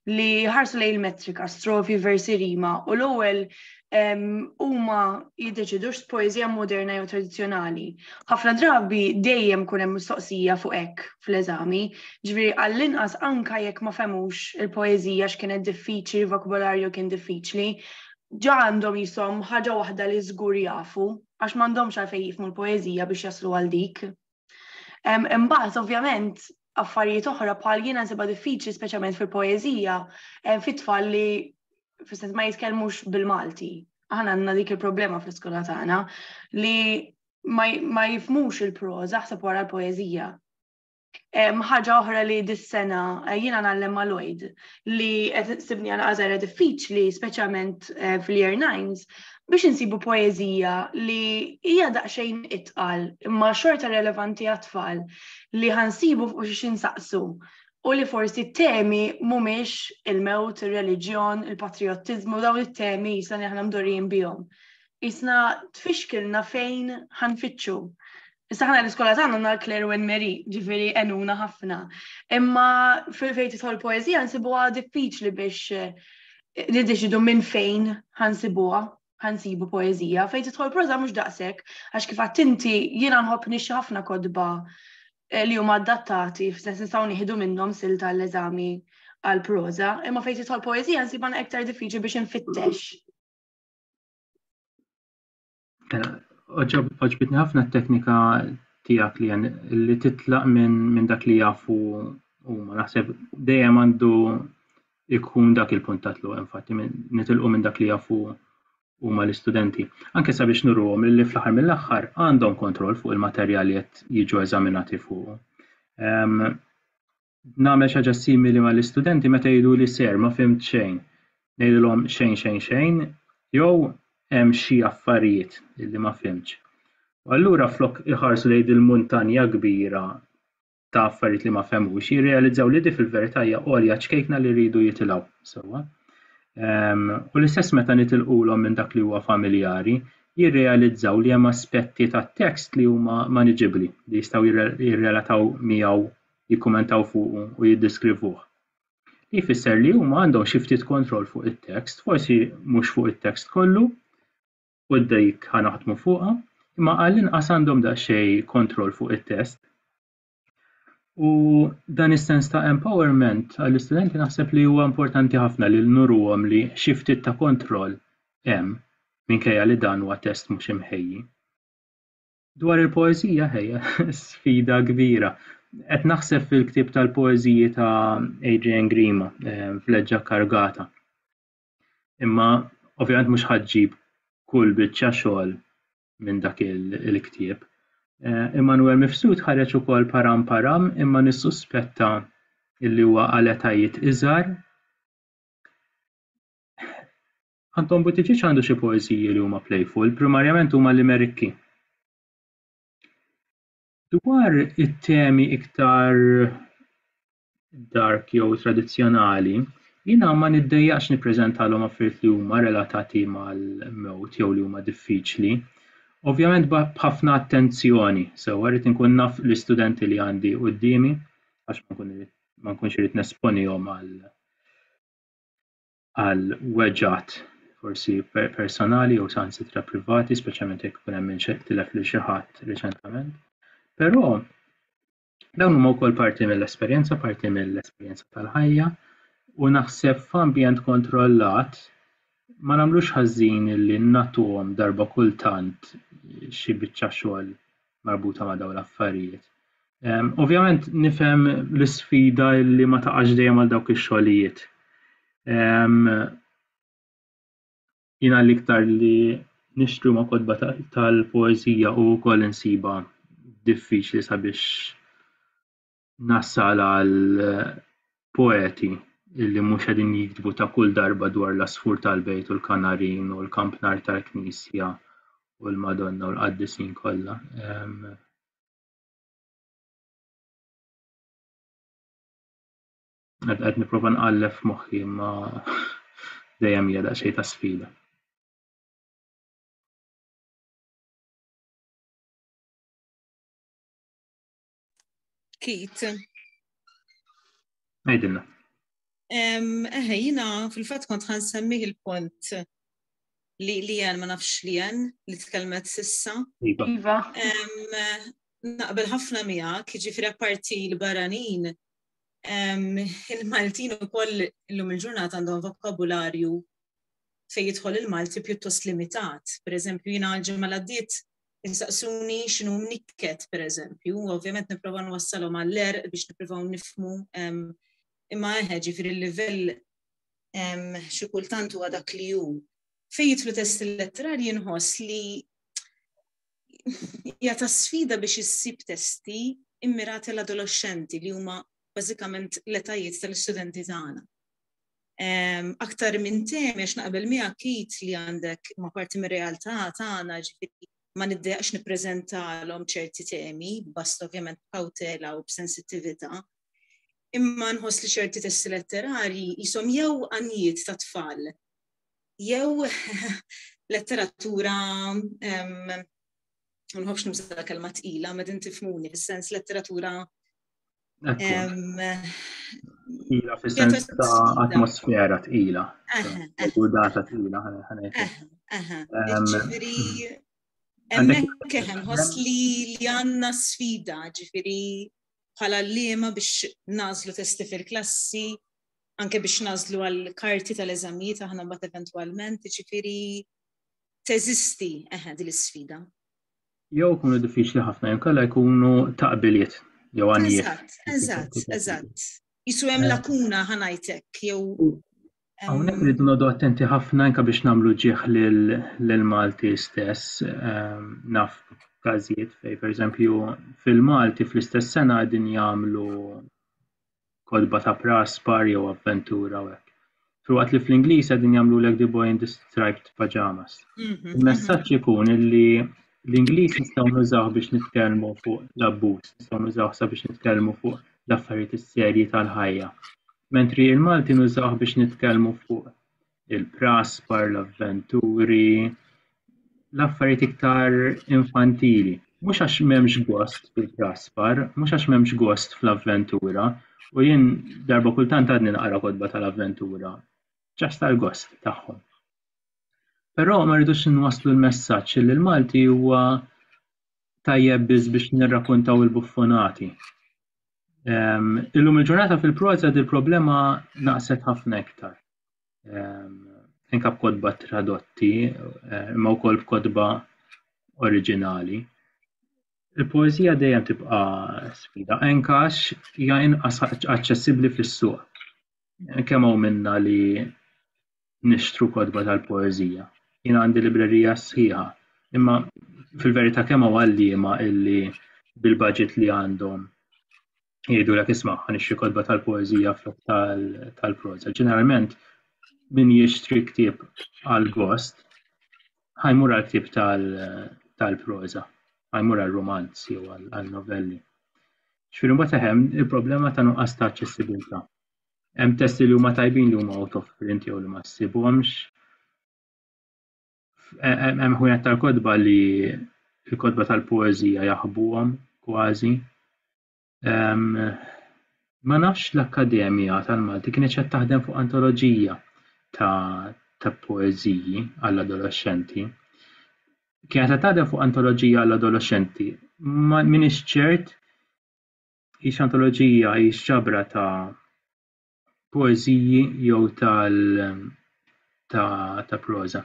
li ħarsu lej il-metrika, strofi versi rima u l-ewwel huma jiddeċidux poeżija moderna jew tradizzjonali. Ħafna drabi dejjem kun hemm mistoqsija fuq hekk fl-eżami, ġifieri għall-inqas anka jekk ma femux il-poeżija x'kienet diffiċli, vokabolarju kien diffiċli, ġa għandhom jisom ħaġa waħda li żgur jafu, għax m'għandhomx għalfejn jifmu l-poeżija biex jaslu għal dik. Imbagħad ovvjament affarijiet oħra bħal jiena nsibha diffiċli speċjalment fil-poeżija fit-tfal li fis-sens ma jitkellmux bil-Malti. Aħna għandna dik il-problema fl-iskola tagħna li ma jifmux il-proża ħseb wara l-poeżija. Ħaġa oħra li dis-sena eh, jiena nagħlem ma' Lloyd, li qed sibni għal għażara diffiċli, speċjalment eh, fil-year nines, biex insibu poezija li hija daqsxejn itqal imma xorta relevanti għat-tfal li ħansibu fuq xi insaqsu u li forsi temi mhumiex il-mewt, ir-reliġjon, il-patriottiżmu dawn it-temi jisna li aħna mdorrijin bihom. Jisna tfixkilna fejn ħanfittxu. Issa ħana l-iskola tagħna għandna Claire Wen Mary, ġifieri enuna ħafna. Imma fejn tidħol poeżija nsibuha diffiċli biex eh, niddeċidu minn fejn ħansibuha ħansibu poeżija. Fejn tidħol proża mhux daqshekk, għax kif għad inti jiena nħobb nixxi ħafna kodba eh, li huma adattati, f'sens nistgħu nieħdu minnhom sil tal-eżami għal proża, imma fejn tidħol poeżija nsibha iktar diffiċli biex infittex Mela, oġob- oġbitni ħafna t-teknika tiegħek li jen- li titlaq minn min dak li jafu huma. Naħseb dejjem għandu ikun dak il-punt ta' tluq, infatti, minn nitilqu minn dak li jafu huma l-istudenti. Anke sabiex nurruhom li fl-aħħar mill-aħħar għandhom kontroll fuq il-materjal li qed jiġu eżaminati fuqu. Ehm, nagħmel xi ħaġa simili mal-istudenti meta jgħiduli ser ma fhimt xejn. Ngħidilhom xejn xejn xejn jew hemm xi affarijiet li ma fhimtx. U allura flok iħarsu lejn il-muntanja kbira ta' affarijiet li ma fehmux, jirrealizzaw li di fil-verità hija għolja ċkejkna li rridu jitilgħu sewwa. Ehm, u l-istess meta nitilqulhom minn dak li huwa familjari, jirrealizzaw li hemm aspetti tat-tekst li huma maniġibbli li jistgħu jirrelataw miegħu jikkummentaw fuqu u jiddeskrivuh. Li jfisser li huma għandhom xi ftit kontroll fuq it-tekst, forsi mhux fuq it-tekst kollu, u dik ħa naħdmu fuqha, imma għall-inqas għandhom daqsxejn kontroll fuq it-test. U dan is-sens ta' empowerment għall-istudenti naħseb li huwa importanti ħafna li nuruhom li xi ftit ta' kontroll hemm minkejja li dan huwa test mhux imħejji. Dwar il-poeżija, ħejja, sfida kbira. Qed naħseb fil-ktieb tal-poeżiji ta' Adrian Grima eh, f'leġġa kargata. Imma ovvjament mhux ħaġġib kull biċċa xogħol minn dak il-ktieb. Eh, Immanuel Mifsud ħareġ ukoll param param imma nissuspetta illi huwa għal etajiet iżgħar. Anton Buttigieg għandu xi poeżiji li huma playful, primarjament huma limerikki. Dwar it-temi iktar dark jew tradizzjonali, jiena ma niddejjaqx nippreżentalhom affarijiet li huma relatati mal-mewt jew li huma diffiċli. Ovvjament b'ħafna attenzjoni, sewwa rrid inkun naf l-istudenti li għandi quddiemi għax ma nkunx irid nesponihom għal għal weġgħat forsi personali jew saħansitra privati, speċjalment jekk ikun hemm minn xi tilef lil xi ħadd riċentament. Però dawn huma wkoll parti mill-esperjenza, parti mill-esperjenza tal-ħajja u naħseb f'ambjent kontrollat ma nagħmlux ħażin li nagħtuhom darba kultant xi biċċa xogħol marbuta ma' dawn l-affarijiet. Ehm, ovvjament nifhem l-isfida li ma taqax dejjem għal dawk ix-xogħlijiet. Ehm, jina l-iktar li nixtru ma' kodba tal-poezija u wkoll insiba diffiċli sabiex nassal għal poeti illi mhux qegħdin jiktbu ta' kull darba dwar l-għasfur tal-bejt u l-kanarin u l-kampnar tal-knisja u l-Madonna u l-qaddisin kollha. Għad niprofa nqallef moħħi ma dejjem hija daqsxejn ta' sfida. Kit. Għajdilna. Eħe, jina fil-fat kont ħan semmiħ il-punt li li jen ma nafx li jen li t-kelmet sissa. Iva. iva. Naqbel ħafna mija, kħiġifri parti l-baranin, il-Maltin u koll l-lum il-ġurnat għandhom vokabularju fej jidħol il-Malti pjuttost limitat. Per eżempju, jina ġemma l-għaddit jistaqsuni xinu mnikket, per eżempju, u ovvjament niprofa nwassalhom għall-er biex niprofaw nifmu imma eħe ġifiri l-livell xi kultant huwa dak li hu. Fejn jitlu test letterar jinħoss li jata sfida biex issib testi immirati l-adolescenti li huma bażikament l-etajiet tal-istudenti tagħna. aktar minn tem, għax naqbel mi kit li għandek ma parti mir realtà tagħna ġifieri ma niddejaqx nippreżentalhom ċerti temi, bast ovvjament b'kawtela u b'sensittività. Imma nħoss li ċerti testi letterari jisom jew għanijiet ta' tfal, jew letteratura nħobx nuża kelma tqila, ma din tifmuni, fis-sens letteratura Tqila fis-sens ta' atmosfera tqila. U data tqila ħanajt. Emmek keħem, hos li li għanna sfida, ġifiri bħala l-lima biex nazlu testi fil-klassi, anke biex nazlu għal-karti tal-eżamijiet aħna bat eventualment, ġifiri teżisti eħed l-sfida. jew ikunu diffiċli ħafna jew kalla jkunu taqbiliet jew għanijiet. Eżatt, eżatt, eżatt. Jisu hemm eh. lakuna ħanajtek jew. Hawnhekk rridu nodu attenti ħafna anke biex nagħmlu ġieħ lil Malti stess ehm, naf każijiet fej pereżempju fil-Malti fl-istess sena qegħdin jagħmlu kotba ta' pras, bar jew avventura u hekk. Filwaqt li fl-Ingliż qegħdin jagħmlulek the boy in the striped pajamas. Mhm, Il-messaġġ ikun illi l-Ingliż nistgħu nużaw biex nitkellmu fuq l-abbuż, nistgħu nużaw sabiex nitkellmu fuq l-affarijiet is-serji tal-ħajja. Mentri il-Malti nużaw biex nitkellmu fuq il-praspar, l-avventuri, l-affarijiet iktar infantili. Mhux għax m'hemmx gost fil-praspar, mhux għax m'hemmx gost fl-avventura, u jien darba kultant għadni naqra kodba tal-avventura, ġast tal-gost tagħhom. Però ma rridux nwaslu l-messaġġ li l-Malti huwa tajjeb biss biex nirrakuntaw il-buffonati. Ehm, illum il-ġurnata fil-proza il problema naqset ħafna iktar. anke b'kodba tradotti, eh, imma wkoll b'kodba oriġinali. Il-poeżija dejjem tibqa' sfida, anke għax hija inqas aċċessibbli fis-suq. Kemm hawn minna li nixtru kodba tal-poeżija. Jien għandi librerija sħiħa, imma fil-verità kemm hawn għalliema illi bil-budget li għandhom jgħidu l isma' għan ixri kodba tal-poezija flok tal-proza. Ġeneralment, min jixtri ktib għal-gost, ħajmur għal-ktib tal-proza, ħajmur għal-romanz jew għal-novelli. Xfirin bat hemm il-problema ta' nuqqas ta' aċċessibilità. Hemm testi li huma tajbin li huma out of print jew li ma ssibhomx. hemm ħwienet tal-kotba li l-kotba tal-poeżija jaħbuhom kważi. Ma nafx l-Akkademja tal-Malti kienet qed taħdem fuq antoloġija ta' ta' poeżiji għall-adolexxenti. Kienet qed taħdem fuq antoloġija għall-adolexxenti. Ma minix ċert hix antoloġija hix ġabra ta' poeżiji jew tal ta' ta' proża.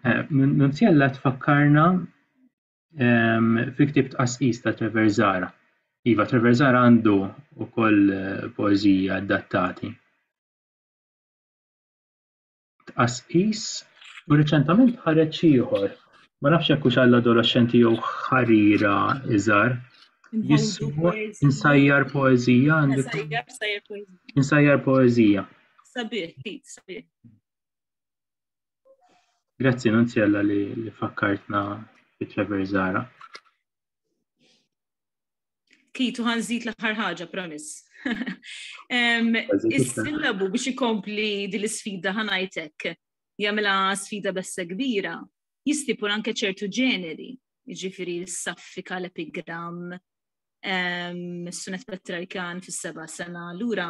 Eh, Nunzjella tfakkarna ehm, fi ktib tqasqis ta' Trevor Zara. Iva, Trevor Zara għandu wkoll eh, poeżiji adattati. tqasqis u riċentament ħareġ ieħor. Ma nafx hekk hux għall-adolexxenti jew ħarira iżgħar. Jismu insajjar poezija għandu. Insajjar poezija. Sabiħ, sabiħ. Grazzi Nunzjella li fakkartna bit Trevor Zara. Kitu ħan zid l-aħħar ħaġa, promis. Is-sillabu biex ikompli din l-sfida ħanajtek jagħmilha sfida bessa kbira, jistipul anke ċertu ġeneri, jiġifieri s-saffika l-epigram, s-sunet patriarkan fis-seba' sena, lura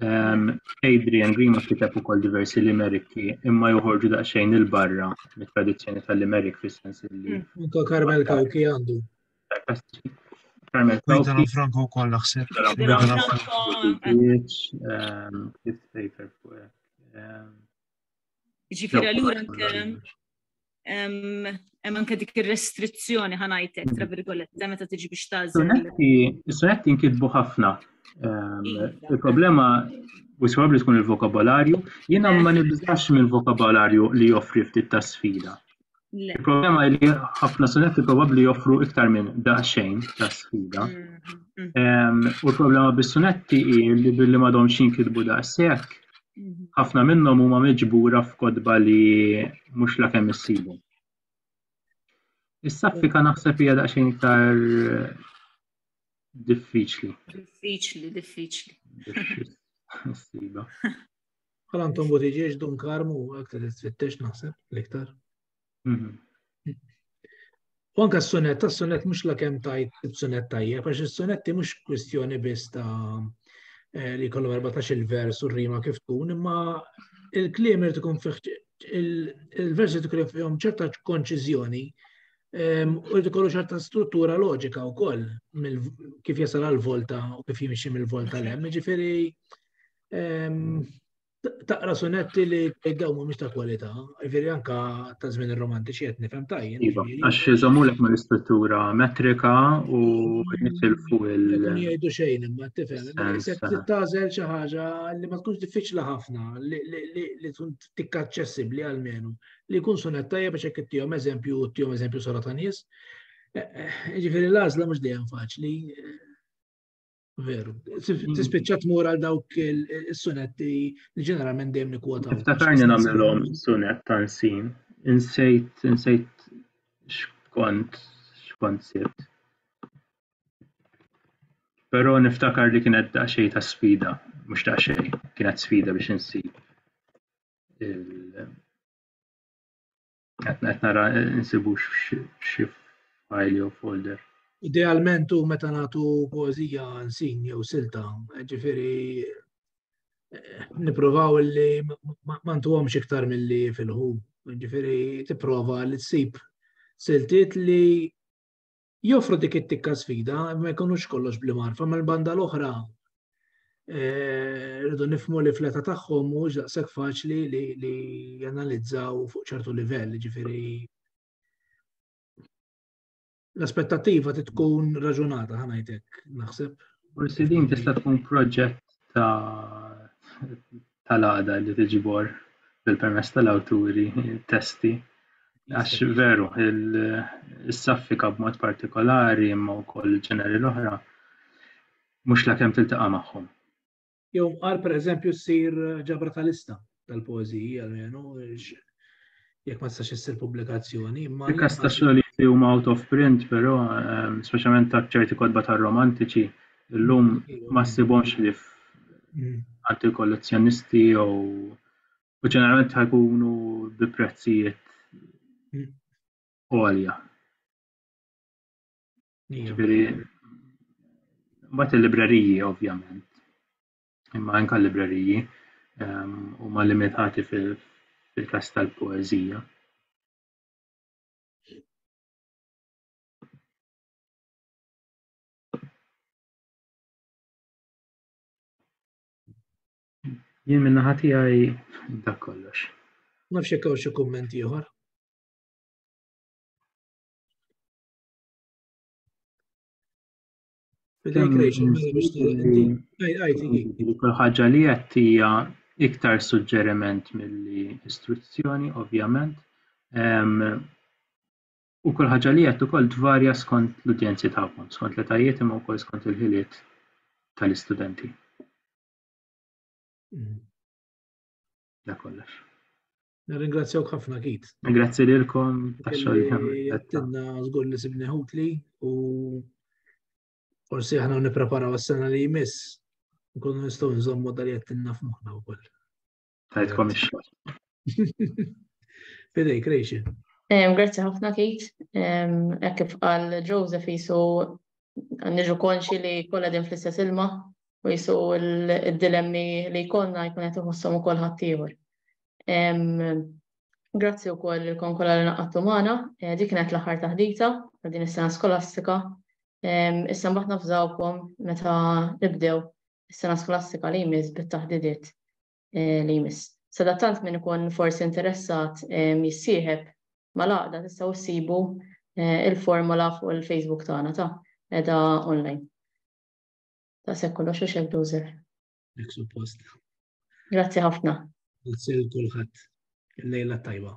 Ehm, Adrian Grima kiteb ukoll diversi limeriki imma joħorġu daqsxejn il-barra mit-tradizzjoni tal-limerik fis-sens li. Mm. Anka Carmel Kawki għandu. Carmel Kawki. Franco wkoll naħseb. Ġifieri allura hemm anke dik ir-restrizzjoni ħanajtek tra virgoletta meta tiġi biex tażel. Is-sonetti nkitbu ħafna. Il-problema u s-sabab li tkun il-vokabolarju, jiena ma nibżax minn vokabolarju li joffri ftit ta' sfida. Il-problema li ħafna sonetti probabbli joffru iktar minn daqsxejn ta' sfida. Mm-hmm. U l-problema bis-sonetti hi li billi m'għadhomx jinkitbu daqshekk ħafna minnhom huma miġbura f'kotba li mhux la kemm issibu. Is-saffika naħseb hija daqsxejn iktar diffiċli. Diffiċli, diffiċli. Issiba. Bħal għandhom butiġiex dun karmu aktar tfittex naħseb l-iktar. U anka s-sonet, ta' sonet mux la kem tajt il-sonet tajja, għax il-sonetti mux kwistjoni biss ta' eh, li kollu 14 il-vers u rima kif tkun, imma il-klim irrid ikun il-versi tkun fihom ċerta konċizjoni ehm, u rrid ikollu ċerta struttura loġika wkoll kif jasal għal volta u kif jimxi mill-volta l-hemm, ġifieri ehm, taqra sunetti li dawn mhumiex ta' kwalità, jiġifieri anka ta' żmien ir-romantiċi qed nifhem tajjeb. Iva, jiġifieri għax iżommulek mal-istruttura metrika u jitilfu il. Jgħidu xejn imma tifhem, se tagħżel xi ħaġa li ma tkunx diffiċli ħafna li tkun tikka aċċessibbli għalmenu li jkun sunet tajjeb biex hekk ittihom eżempju u ttihom eżempju sara ta' nies. Eh, eh, jiġifieri l-għażla mhux dejjem faċli. Veru. Mm. Tispiċċa tmur għal dawk is-sunetti li ġeneralment dejjem nikwotaw. Iftakarni nagħmilhom sunet ta' nsin. Insejt, insejt xkont, xkont sibt. Però niftakar li kienet daqsxejn ta' sfida, mhux daqsxejn, kienet sfida biex insib Qed qed nara nsibu xi file jew folder. Idealment u meta nagħtu poeżija nsin jew silta, ġifieri eh, nippruvaw li ma ntuhomx iktar milli fil-ħu, ġifieri tipprova li tsib siltiet li joffru dik it-tikka sfida, ma jkunux kollox bli marfa, ma l-banda l-oħra eh, rridu nifmu li fleta tagħhom mhux daqshekk faċli li janalizzaw fuq ċertu livell, ġifieri l-aspettativa tkun raġunata ħanajtek, naħseb. Forsi din tista' tkun proġett ta' tal-għaqda li tiġbor bil-permess tal-awturi testi għax veru il-saffika b'mod partikolari imma wkoll ġeneri l-oħra mhux lakemm tiltaqa' magħhom. Jew qar pereżempju ssir ġabra tal-lista tal-poeżiji għalmenu jekk ma tistax issir pubblikazzjoni. Il-kas ta' xogħlijiet li huma out of print, però, ehm, speċjalment ta' ċerti kodba ta' romantiċi, illum ma ssibhomx li mm. għand il-kollezzjonisti jew u ġeneralment ħajkunu bi prezzijiet mm. għolja. Ġifieri mbagħad il-libreriji ovvjament. imma anke l-libreriji ehm, huma limitati fil-każ tal-poeżija. Jien minna ħati għaj dak kollox. Nafx jekk hawn xi kumment ieħor. Kull ħaġa li qed hija iktar suġġeriment milli istruzzjoni, ovvjament. U kull ħaġa li qed ukoll tvarja skont l-udjenzi tagħkom, skont l-etajiet imma wkoll skont il-ħiliet tal-istudenti. Mm. Da kollox. Nirringrazzjawk ħafna kit. Grazzi lilkom tax-xogħol li għamilna. Jattinna żgur li sibni ħutli u forsi aħna nippreparaw għas-sena li jmiss nkunu nistgħu nżommu dal jattinna f'moħħna wkoll. Tajtkom ix-xogħol. Fidej, krejxi. Grazzi ħafna Kate. Hekk kif qal Joseph jisu niġu konxi li kollha din fl-istess ilma u jisu il-dilemmi li jkollna jkun qed iħossom ukoll ħaddieħor. Grazzi wkoll il-kon kollha li naqattu magħna, eh, dik kienet l-aħħar taħdita ta' din is-sena skolastika. Issa mbagħad nafżawkom meta nibdew is-sena skolastika li jmiss bit-taħdidiet eh, li jmiss. Sadattant minn ikun forsi interessat jissieħeb mal-għaqda tistgħu ssibu eh, il-formola fuq il-Facebook tagħna ta' edha online. Ta' se kollox u xek Joseph. Dik suppost. Grazzi ħafna. Grazzi l kulħadd. Il-lejla tajba.